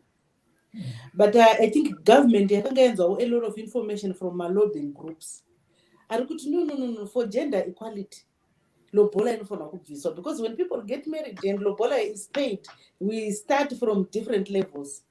hmm. but uh, i think government yakanga yanzwawo a lot of information from malobbying groups ari kuti no no no no for gender equality lobola inofanirwa kubviswa because when people get married and lobola is paid we start from different levels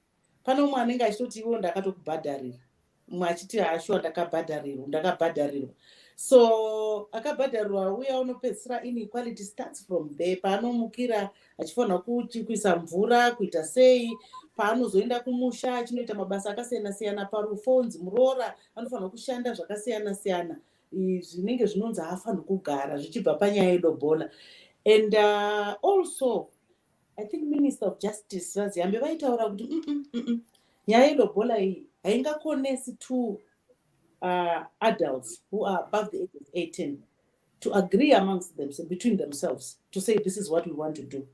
pane umwe anenge achitoti iwo ndakatokubhadharira umwe achiti hashuwa ndakabhadharirwa ndakabhadharirwa so akabhadharirwa uya unopedzisira inequality starts from there paanomukira achifanira kuisa mvura kuita sei paanozoenda kumusha achinoita mabasa akasiyana siyana parufonzi muroora anofanira kushanda zvakasiyana siyana zvinenge zvinonzi haafanirwi kugara zvichibva panyaya yedobola and uh, also i think minister of justice vaziyambe vaitaura kuti mm, mm, mm, nyaya yedobola iyi haingakonesi to uh, adults who are above the age of 18 to agree amongst them between themselves to say this is what we want to do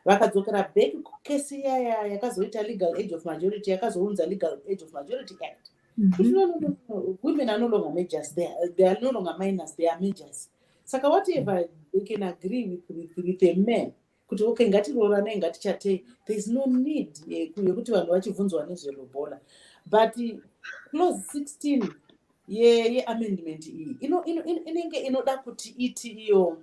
vakadzokera back kukesi yaya yakazoita legal age of majority yakazounza legal age of majority act mhm. women are no longer majors they are no longer minors they are majors saka whatever they can agree with, with, with a man kuti okay ngatiroranei ngatichatei there is no need yekuti vanhu vachibvunzwa nezvelobola but clause 16 yeamendment iyi inenge inoda kuti iti iyo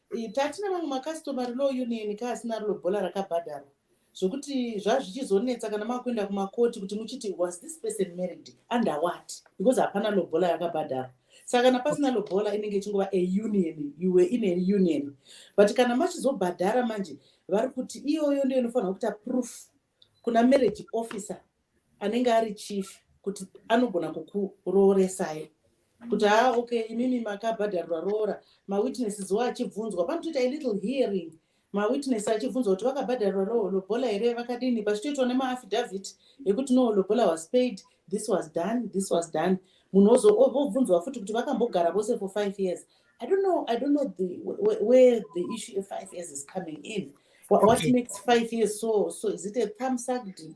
tatina mamwe makastomary law union ka asina rilo bhola rakabhadharwa zvokuti zvazvichizonetsa kana makuenda kumakoti kuti muchiti was this person married under what because hapana lobola yakabhadharwa saka kana pasina lobola inenge ichingova a union you were in a union but kana machizobhadhara manje vari kuti iyoyo ndiyo inofanirwa kuita proof kuna marriage officer anenge ari chief kuti anogona kukurooresai kuti haa okay imimi makabhadharwa roora mawitnesses wo achibvunzwa panotoita ilittle hearing mawitness achibvunzwa kuti vakabhadharwa lobola here vakadini pachitoitwa nemaaffidavit ekuti no lobola was paid this was done this was done munhu vobvunzwa futi kuti vakambogara vose for five years I don't know. I don't know the where, where the issue of five years is coming in. What, what Okay. makes five years so? So is it a thumb suck? deal?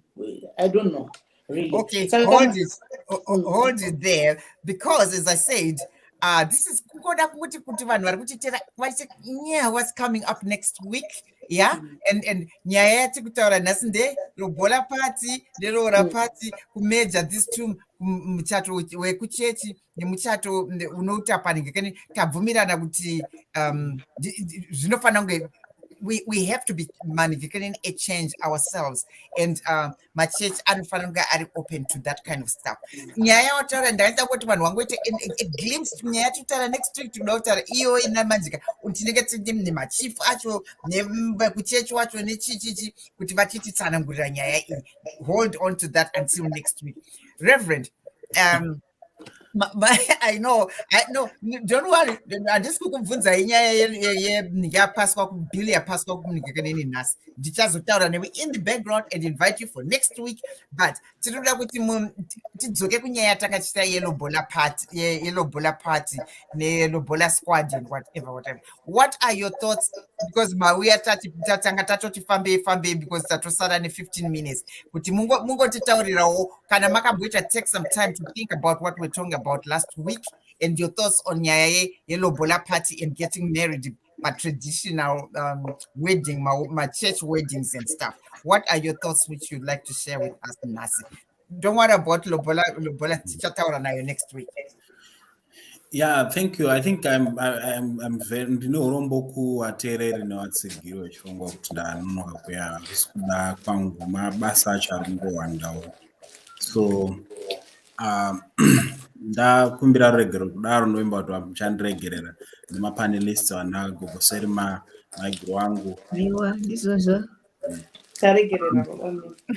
I don't know really. Okay, Saka hold kama- it, ho- ho- Mm. hold it there because as I said, uh, this is kukoda kuti kuti vanhu vari kutitera vachi yeah, what's coming up next week yeah Mm. and and nyaya yati kutaura nhasi nde robola party neroora Mm. party kumeja this two muchato wekuchechi nemuchato unoita paringe kani tabvumirana kuti um, zvinofanira kunge we, we have to be manifesting a change ourselves and uh, machurch anofanira kunge ari open to that kind of stuff nyaya yawataura ndakaita kuti vanhu vangoita a glimpse nyaya yatitaura next week tinoda kutaura iyo ina manjika tinenge tine nemachief acho nekuchechi wacho nechichichi kuti vachititsanangurira nyaya iyi hold on to that until next week reverend um, i know i know don't worry handisi kukubvunzai nyaya yenhingi yapaswa bill yapaswa kumunhingi kaneni nhasi ndichazotaura newe in the background and invite you for next week but tinoda kuti tidzoke kunyaya yatanga tichita yelobola party yelobola party nelobola squad and whatever whatever what are your thoughts because mauya tati tatanga tatoti fambei fambei because tatosara ne15 minutes kuti mungotitaurirawo kana makamboita take some time to think about what we're talking about last week and your thoughts on nyaya yelobola party and getting married matraditional um, wedding machurch weddings and stuff what are your thoughts which you'd like to share with us nhasi don't worry about lobola lobola tichataura nayo next week yeah thank you i think i'm i'm, I'm very ndine urombo kuateereri nevatsigiro vechirongwa kuti ndanonoka kuya kuda kwangu mabasa acho ari kungowandawo so um, ndakumbira ruregero kudaro ndovimba kuti vamuchandiregerera nemapanelists vana gogo serima maiguru wangu aiwa ndizvozvo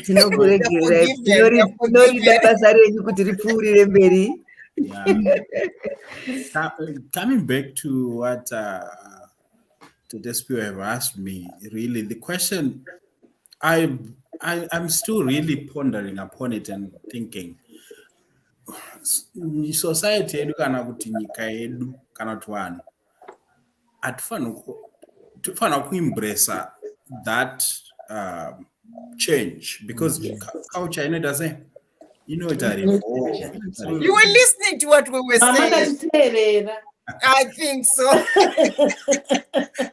tinoregererainorida basa renyu kuti ripfuurire mberi coming back to what uh, Tedespew have asked me, really, the question I, I I'm still really pondering upon it and thinking society yedu kana kuti nyika yedu kana kuti vanhu hatifanira kuimbresa that uh, change because mm, culture inoita sei inoita you were listening to what we were saying I think so.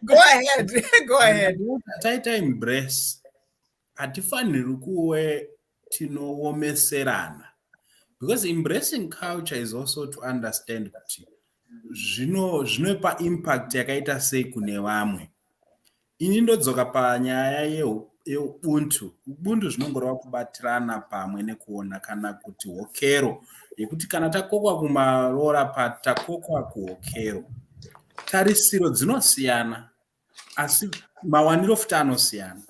go ahead. Go ahead. Taita embrace. Hatifaniri kuwe tinowomeserana because embracing culture is also to understand kuti zvino zvinopa impact yakaita sei kune vamwe ini ndodzoka panyaya yeubuntu ubuntu zvinongoreva kubatirana pamwe nekuona kana kuti hokero yekuti kana takokwa kumaroora patakokwa kuhokero tarisiro dzinosiyana asi mawaniro futi anosiyana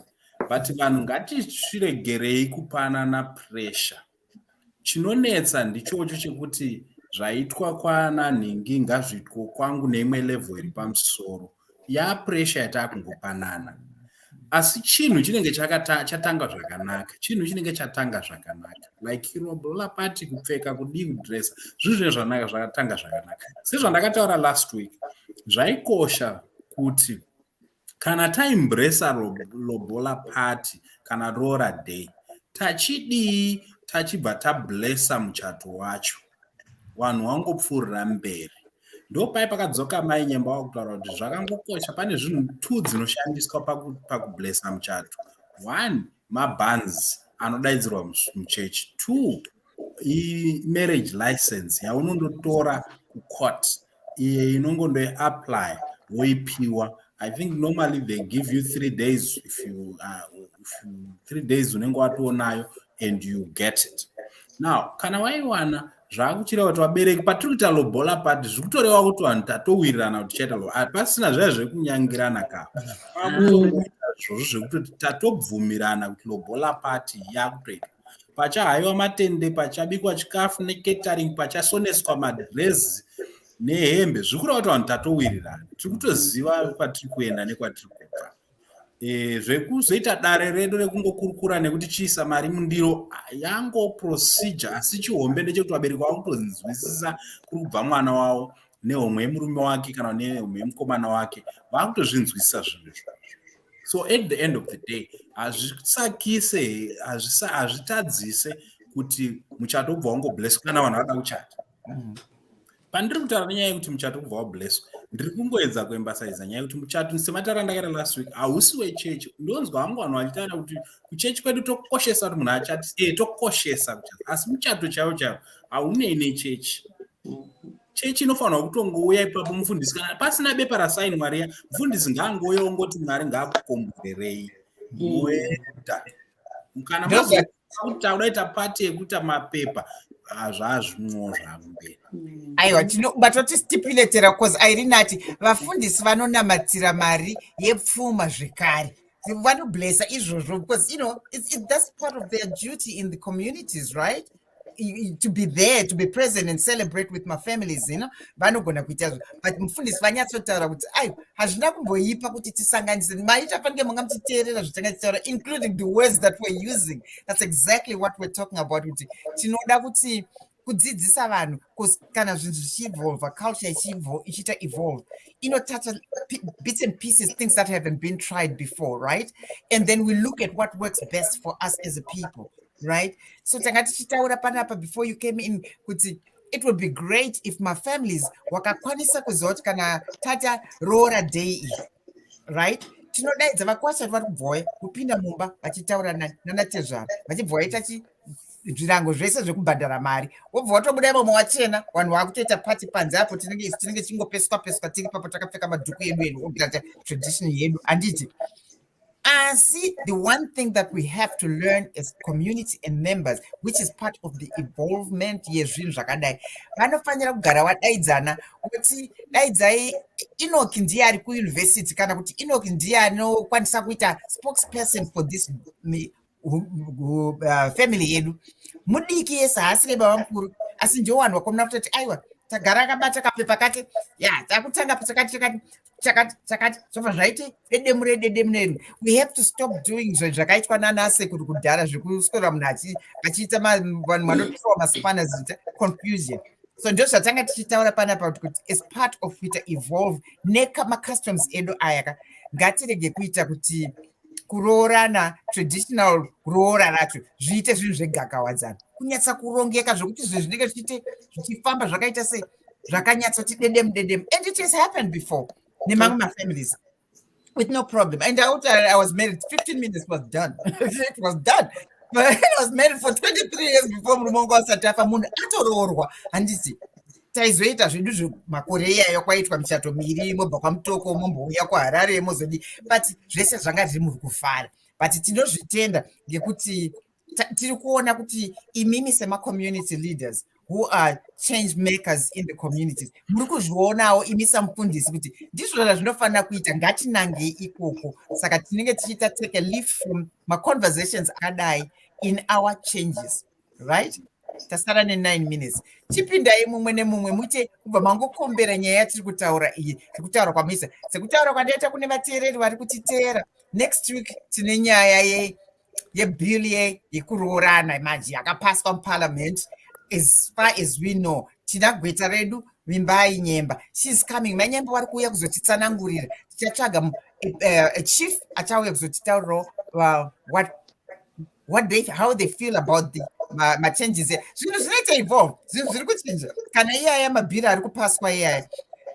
but vanhu ngatisviregerei kupanana pressure chinonetsa ndichocho chekuti zvaitwa kwana nhingi ngazviitwo kwangu neimwe level iri pamusoro yapressure yataakungopanana asi chinhu chinenge chatanga zvakanaka chinhu chinenge chatanga zvakanaka like irombo lapati kupfeka kudii kudresa zvinhu zvine zvanaka zvakatanga zvakanaka sezvandakataura last week zvaikosha kuti kana taimbresa lobola party kana roora day tachidii tachibva tablesa muchato wacho vanhu vangopfuurira mberi ndopai pakadzoka mai nyemba wakutaura kuti zvakangokosha pane zvinhu two dzinoshandiswa pakublesa muchato one mabands anodaidzirwa muchechi two imarriage license yaunondotora kucourt iye inongondoiapply woipiwa I think normally they give you three days if you, uh, if you three days unenge watonayo and you get it now kana waiwana zvakuchireva kuti vabereki patiri kuita lobola pati zviri kutoreva kuti vanhu tatowirirana kuti tichaita lobola ah, pasina zvaya zviri kunyangirana ka zvozvo zvekutoti tatobvumirana kuti lobola pati yakutoita pachahaiwa matende pachabikwa chikafu neketering pachasoneswa madrezi nehembe zviri kureva kuti vanhu tatowirirana tiri kutoziva kwatiri kuenda nekwatiri kubva e, zvekuzoita dare redu rekungokurukura nekuti chiisa mari mundiro yango procedure asi chihombe ndechekuti vabereki vavo kutonzwisisa kuri kubva mwana wavo nehomwe yemurume wake kana nehomwe yemukomana wake vakutozvinzwisisa zvinhu izvo so at the end of the day hazvisakise hazvitadzise kuti muchato ubva wangobless kana vanhu vada kuchata mm -hmm. pandiri kutaura nenyaya yekuti muchato kubva wablesswa ndiri kungoedza kuembasaiza nyaya yekuti muchato sematara andakaita last week hausi wechechi ndonzwa hangu vanhu vachitaura kuti kuchechi kwedu tokoshesa kuti munhu achati e eh, tokoshesa kuchati asi muchato chaiwo chaiwo haunei nechechi chechi inofanirwa kutongouya ipapo mufundisi kana pasina bepa rasainwa riya mufundisi ngaangouya ongoti mwari ngaakukomborerei mm. moenda mm. kana taudaita pati yekuita mapepa ah, zvazvimwo zvakumberi mm. aiwa tinobatwa tisistipiletera bcause airinati vafundisi vanonamatira mari yepfuma zvekare vanoblesa izvozvo because you know it's, it's, that's part of their duty in the communities right to be there to be present and celebrate with my families you know vanogona kuita zvo but mufundisi vanyatsotaura kuti ai hazvina kumboipa kuti tisanganise maita fanike manga muchiteerera zvotanga tichitaura including the words that we're using that's exactly what we're talking about kuti tinoda kuti kudzidzisa vanhu kana zvinhu zvichievolva culture ichiita evolve inotoucha bits and pieces things that haven't been tried before right and then we look at what works best for us as a people right so tanga tichitaura panapa before you came in kuti it would be great if mafamilies wakakwanisa kuziva kuti kana tata roora day iyi right tinodaidza vakwasha vari kubva wauya kupinda mumba vachitaura nanatezvara vachibva waita chi zvirango zvese zvekubhadhara mari wobva watobuda imomo wachena vanhu vakutoita pati panze apo tinenge isu tinenge tichingopeswa peswa tiri papo takapfeka madhuku edu edu tradition yedu handiti Asi, the one thing that we have to learn as community and members, which is part of the involvement yezvinhu zvakadai, vanofanira kugara vadaidzana kuti daidzai Enoch ndiye ari kuuniversity kana kuti Enoch ndiye anokwanisa kuita spokesperson for this uh, family yedu mudiki yese haasi nebaba mukuru asi njowanwa komuna kutoti aiwa tagara akabata kapepa kake ya takutanga chakati chakati chakati chakati zvobva zvaiti dedemu rededemu redu we have to stop doing zvo zvakaitwa nana sekuru kudhara zvekuswera munhu achiita vanhu vanotiwa masipana zita confusion so ndo zvatanga tichitaura panapa kuti as part of kuita evolve nekamacustoms edu ayaka ngatirege kuita kuti kuroorana traditional kuroora racho zviite zvinhu zvegakawadzana kunyatsa kurongeka zvokuti zvinhu zvinenge zvichiite zvichifamba zvakaita sei zvakanyatsoti dedem dedem and it has happened before nemamwe mafamilies with no problem and out i was married 15 minutes was done it was done but i was married for 23 years before murume wangu asati afa munhu atoroorwa handiti taizoita zvedu zvemakore iyayo kwaitwa michato miri mobva kwamutoko mombouya kuharare mozodi but zvese zvanga zviri muri kufara but tinozvitenda ngekuti tiri kuona kuti imimi semacommunity leaders who are change makers in the communities muri kuzvionawo imi samufundisi kuti ndizvo zvazvinofanira kuita ngatinangei ikoko saka tinenge tichiita take a leaf from maconversations akadai in our changes right tasara nenine minutes chipindai mumwe nemumwe muite kubva mangokombera nyaya yatiri kutaura iyi sekutaura kwamisa sekutaura kwandaita kune vateereri vari kutiteera next week tine nyaya ye yebill ye yekuroorana manje yakapaswa muparliament as far as we know tina gweta redu vimbai nyemba sheis coming manyemba wari kuuya kuzotitsanangurira tichatsvaga eh, eh, chief achauya kuzotitaurirawo uh, what what they how they feel about the machanges zvinhu zvinoita evolve zvinhu zviri kuchinja kana iyaya mabhiri ari kupaswa iyaya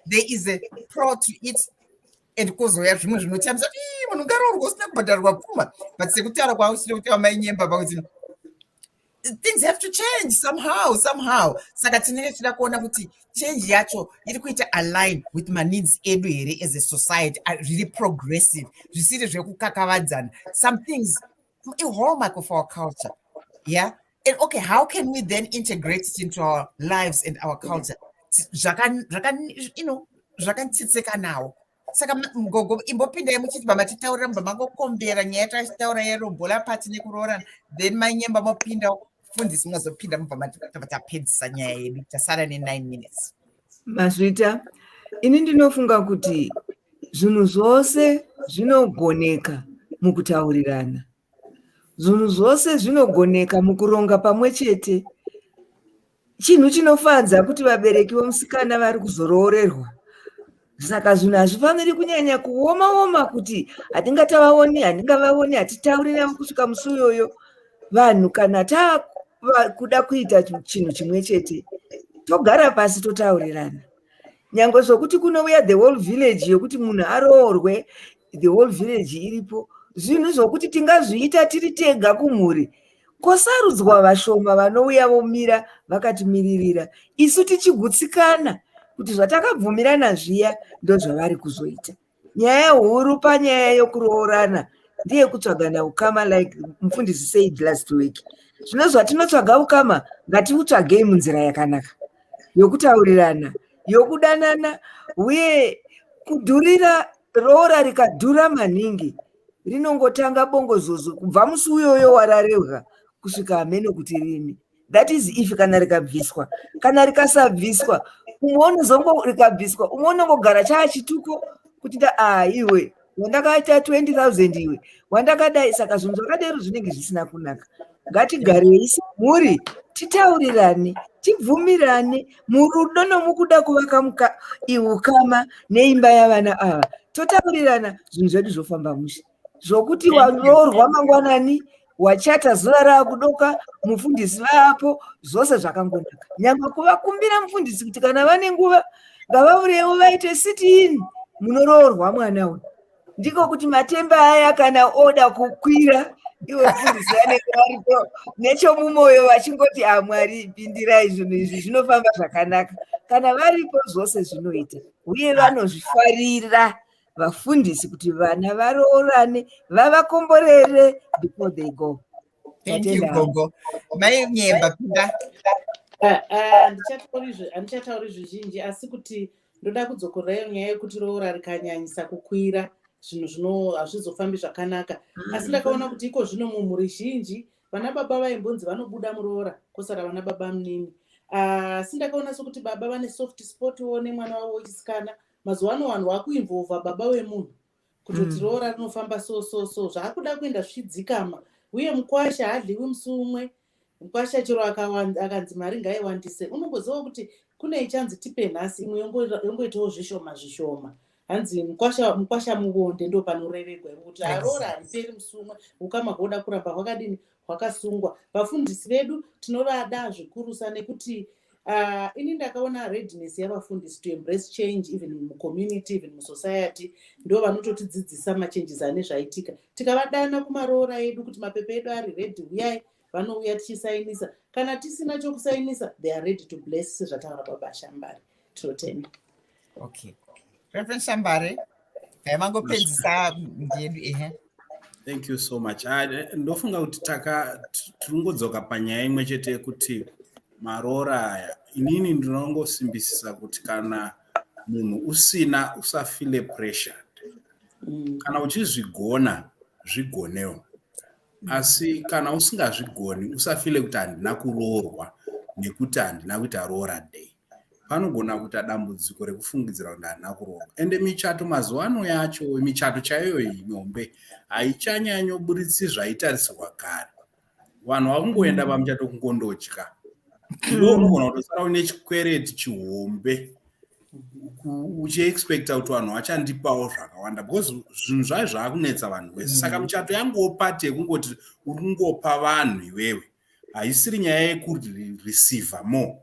there is a pro to it and kozouya zvimwe zvinotambisa munhu ngaroorwa usina kubhadharwa pfuma but sekutaura kwausina kuti amainyemba pakuti things have to change somehow somehow saka tinenge tichida kuona kuti change yacho iri kuita align with maneeds edu here as a society zviri progressive zvisiri zvekukakavadzana some things a hallmark of our culture. Yeah. And okay, how can we then integrate it into our lives and our culture? Zvakan, zvakan, you know, zvakantsitseka nawo saka mgogo imbopindai muchiti baba titaurira mba mangokombera nyaya tachitaura yerobola pati nekuroorana then manyemba mopinda fundisi mozopinda mubva tapedzisa nyaya yedu tasara ne9 minutes Mazvita, ini ndinofunga kuti zvinhu zvose zvinogoneka mukutaurirana. Zvinhu zvose zvinogoneka mukuronga pamwe chete. Chinhu chinofadza kuti vabereki vomusikana vari kuzoroorerwa. Saka zvinhu hazvifaniri kunyanya kuoma-oma kuti hatingatavaoni, handingavaoni, hatitauri navo kusvika musi uyoyo. vanhu kana takuda kuita chinhu chimwe chete togara pasi totaurirana nyange zvokuti kunouya the whole village yokuti munhu aroorwe the whole village iripo zvinhu zvokuti tingazviita tiri tega kumhuri kosarudzwa vashoma vanouya vomira vakatimiririra isu tichigutsikana kuti zvatakabvumirana zviya ndozvavari kuzoita nyaya huru panyaya yokuroorana ndiye kutsvagana ukama like mufundisi said last week zvino zvatinotsvaga ukama ngatiutsvagei munzira yakanaka yokutaurirana yokudanana uye kudhurira roora rikadhura maningi rinongotanga bongozozo kubva musi uyoyo wararevwa kusvika hameno kuti rini that is if kana rikabviswa kana rikasabviswa umwe unozongo rikabviswa umwe unongogara chaa chituko kuti a ah, iwe wandakaita 20000 iwe wandakadai saka zvinhu zvakadero zvinenge zvisina kunaka ngatigarei semhuri titaurirane tibvumirane murudo nomukuda kuvaka ukama neimba yavana ava totaurirana zvinhu zvedu zvofamba mushe zvokuti waroorwa mangwanani wachata zuva raakudoka mufundisi vaapo zvose zvakangonaka nyangwe kuvakumbira mufundisi kuti kana vane nguva ngavavurewo vaite sitin munoroorwa mwana uyu ndiko kuti matemba aya kana oda kukwira ivo mufundisi vanenge varipo nechomumwoyo vachingoti amwari ah, pindirai zvinhu izvi zvinofamba zvakanaka kana varipo zvose zvinoita uye vanozvifarira vafundisi kuti vana varoorane vavakomborere before they go Thank you, Gogo. Mai Nyemba, pinda. Ah, ah, handichatauri zvizhinji asi kuti ndoda kudzokorayo nyaya yekuti roora rikanyanyisa kukwira zvinhu zvino hazvizofambi zvakanaka asi ndakaona kuti iko zvino mumhuri zhinji vana baba vaimbonzi vanobuda muroora kosara vana baba munini ah, asi ndakaona sokuti baba vane soft spot wo nemwana wavo wechisikana mazuva ano vanhu vakuinvolva baba wemunhu kutoti mm. roora rinofamba so so so zvaakuda kuenda zvichidzikama uye mukwasha haadliwi musi umwe mukwasha chero akanzi mari ngaiwandise unongoziva kuti kune ichanzi tipe nhasi imwe yongoitawo zvishoma zvishoma hanzi mukwasha muvonde ndo panoreregwa kuti aroora hariperi musi umwe ukama hwoda kuramba hwakadini hwakasungwa vafundisi vedu tinovada zvikurusa nekuti Uh, ini ndakaona readiness yavafundisi to embrace change even mucommunity even musociety ndo vanototidzidzisa machanges ane zvaitika tikavadana kumaroora edu kuti mapepa edu ari redi huyai vanouya tichisainisa kana tisina chokusainisa they are ready to bless sezvataura babashambari tinotenda Okay. Reverend Shambare, taimangopedzisa ndiyedu ehe. Thank you so much. Ah, ndofunga kuti taka tiringodzoka panyaya imwe chete yekuti maroora aya inini ndinongosimbisisa kuti kana munhu usina usafile pressure mm. kana uchizvigona zvigonewo asi kana usingazvigoni usafile kuti handina kuroorwa nekuti handina kuita roora day panogona kuita dambudziko rekufungidzira kuti handina kuroorwa ende michato mazuva ano yacho michato chaiyo iyi mihombe haichanyanyoburitsi zvaitarisirwa kare vanhu vakungoenda pamuchato kungondotya ndounogona kutosara une chikwereti chihombe uchiexpecta kuti vanhu vachandipawo zvakawanda because zvinhu zvayo zvaakunetsa vanhu wese saka mm. michato yanguwo pati yekungoti uri kungopa vanhu iwewe haisiri nyaya yekureceive more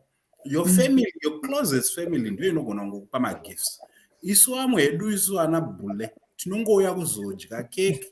your mm. family your closest family ndiyo inogona kungokupa magifts isu amwe hedu isu ana bule tinongouya kuzodya keke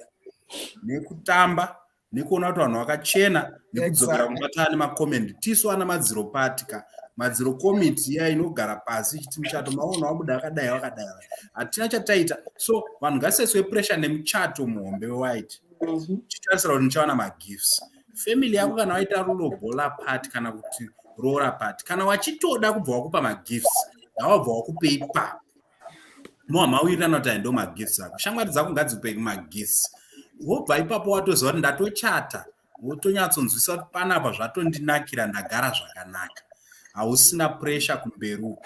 nekutamba nekuona kuti vanhu vakachena nekudzokera kubatana nemacomendi tisu ana madziro pati ka madziro komiti iya inogara pasi ichiti muchato maona wabuda akadai wakadai hatina chataita so vanhu ngaseswe pressure nemuchato muhombe wewhite mhm. chitarisira kuti ndichawana magifts family yako kana waita rulobola part kana kuti roora part kana wachitoda kubva wakupa magifts ngawabva wakupe ipapo moa mauirana kuti aindo magifts ako shamwari dzako ngadzikupe magifts wobva ipapo watoziva kuti ndatochata wotonyatsonzwisa kuti panapa zvatondinakira ndagara zvakanaka hausina pressure kumberi uko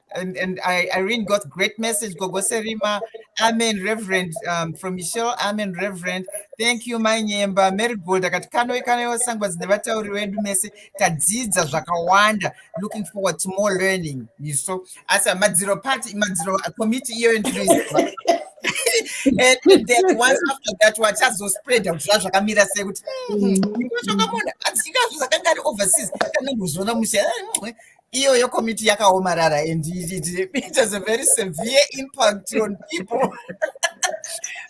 and, and I, Irene got great message. Gogo Serima, Amen, Reverend um, from Michelle, Amen, Reverend. Thank you, my nyemba. Mary Gold, akati kano ikano yosangwa dzinevatauri wedu mese tadzidza zvakawanda. Looking forward to more learning. You saw. As a madziro party, madziro committee iyo ndinoiziva. and then once after that wachazospreada kuti zvazvakamira sei kuti hmm, mm. ikochokamona asi ikazvo zvakanga ari overseas kana kuzviona mushe iyoyo komiti yakaomarara and it, it has a very severe impact on people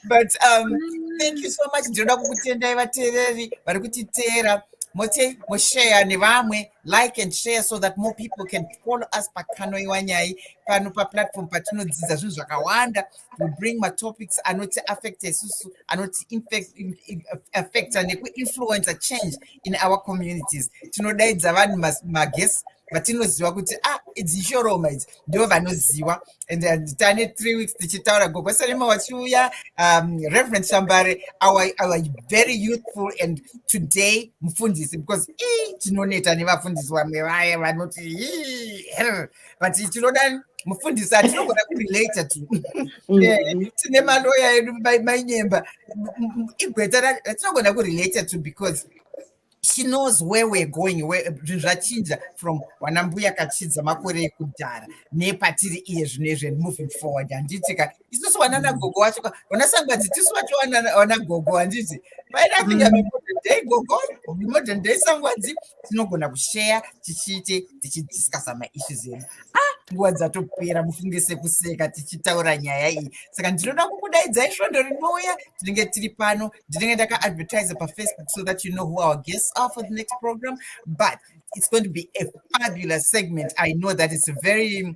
but um, thank you so much ndinoda kukutendai vateereri vari kutiteera moti moshare nevamwe like and share so that more people can follow us pakanoiwa nyai pano paplatform patinodzidza zvinhu zvakawanda we bring matopics anoti affect isusu anoti affecta nekuinfluencer change in our communities tinodaidza vanhu maguest vatinoziva kuti ah idzi ishoroma idzi ndivo vanoziva and uh, tane three weeks tichitaura gogosalema wachiuya um, reverend shambare our, our very youthful and today mufundisi because tinoneta nevafundisi vamwe vaya vanoti but tinoda mufundisi atinogona kurelate tu mm-hmm. eh, tine maloya edu mainyemba igweta ratinogona kurelate tu because she knows where we're going zvachinja from wanambuya kachidza makore ekudhara nepatiri iye zvino izve moving forward handiti ka isusu wanana gogo wacho wana sangwadzi tisu wacho wana gogo handiti painatinga mm. modern day gogo modern day sangwadzi tinogona kusheya tichiite tichidiscusa maissues edu ah nguva dzatopera mufunge sekuseka tichitaura nyaya iyi saka ndinoda kukudaidzai svondo rinouya tinenge tiri pano ndinenge ndakaadvertise pafacebook so that you know who our guests are for the next program but it's going to be a fabulous segment i know that it's very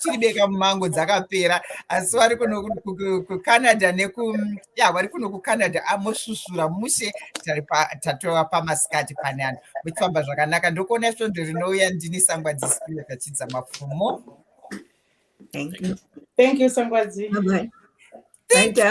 chiribeka mumango dzakapera asi vari kuno kucanada neku ya vari kuno kucanada amosvusvura mushe tatova pamasikati panani muchifamba zvakanaka ndokuona svondo rinouya ndini sangwa dzisipiro tachidza mafumo thank you sangwa dzi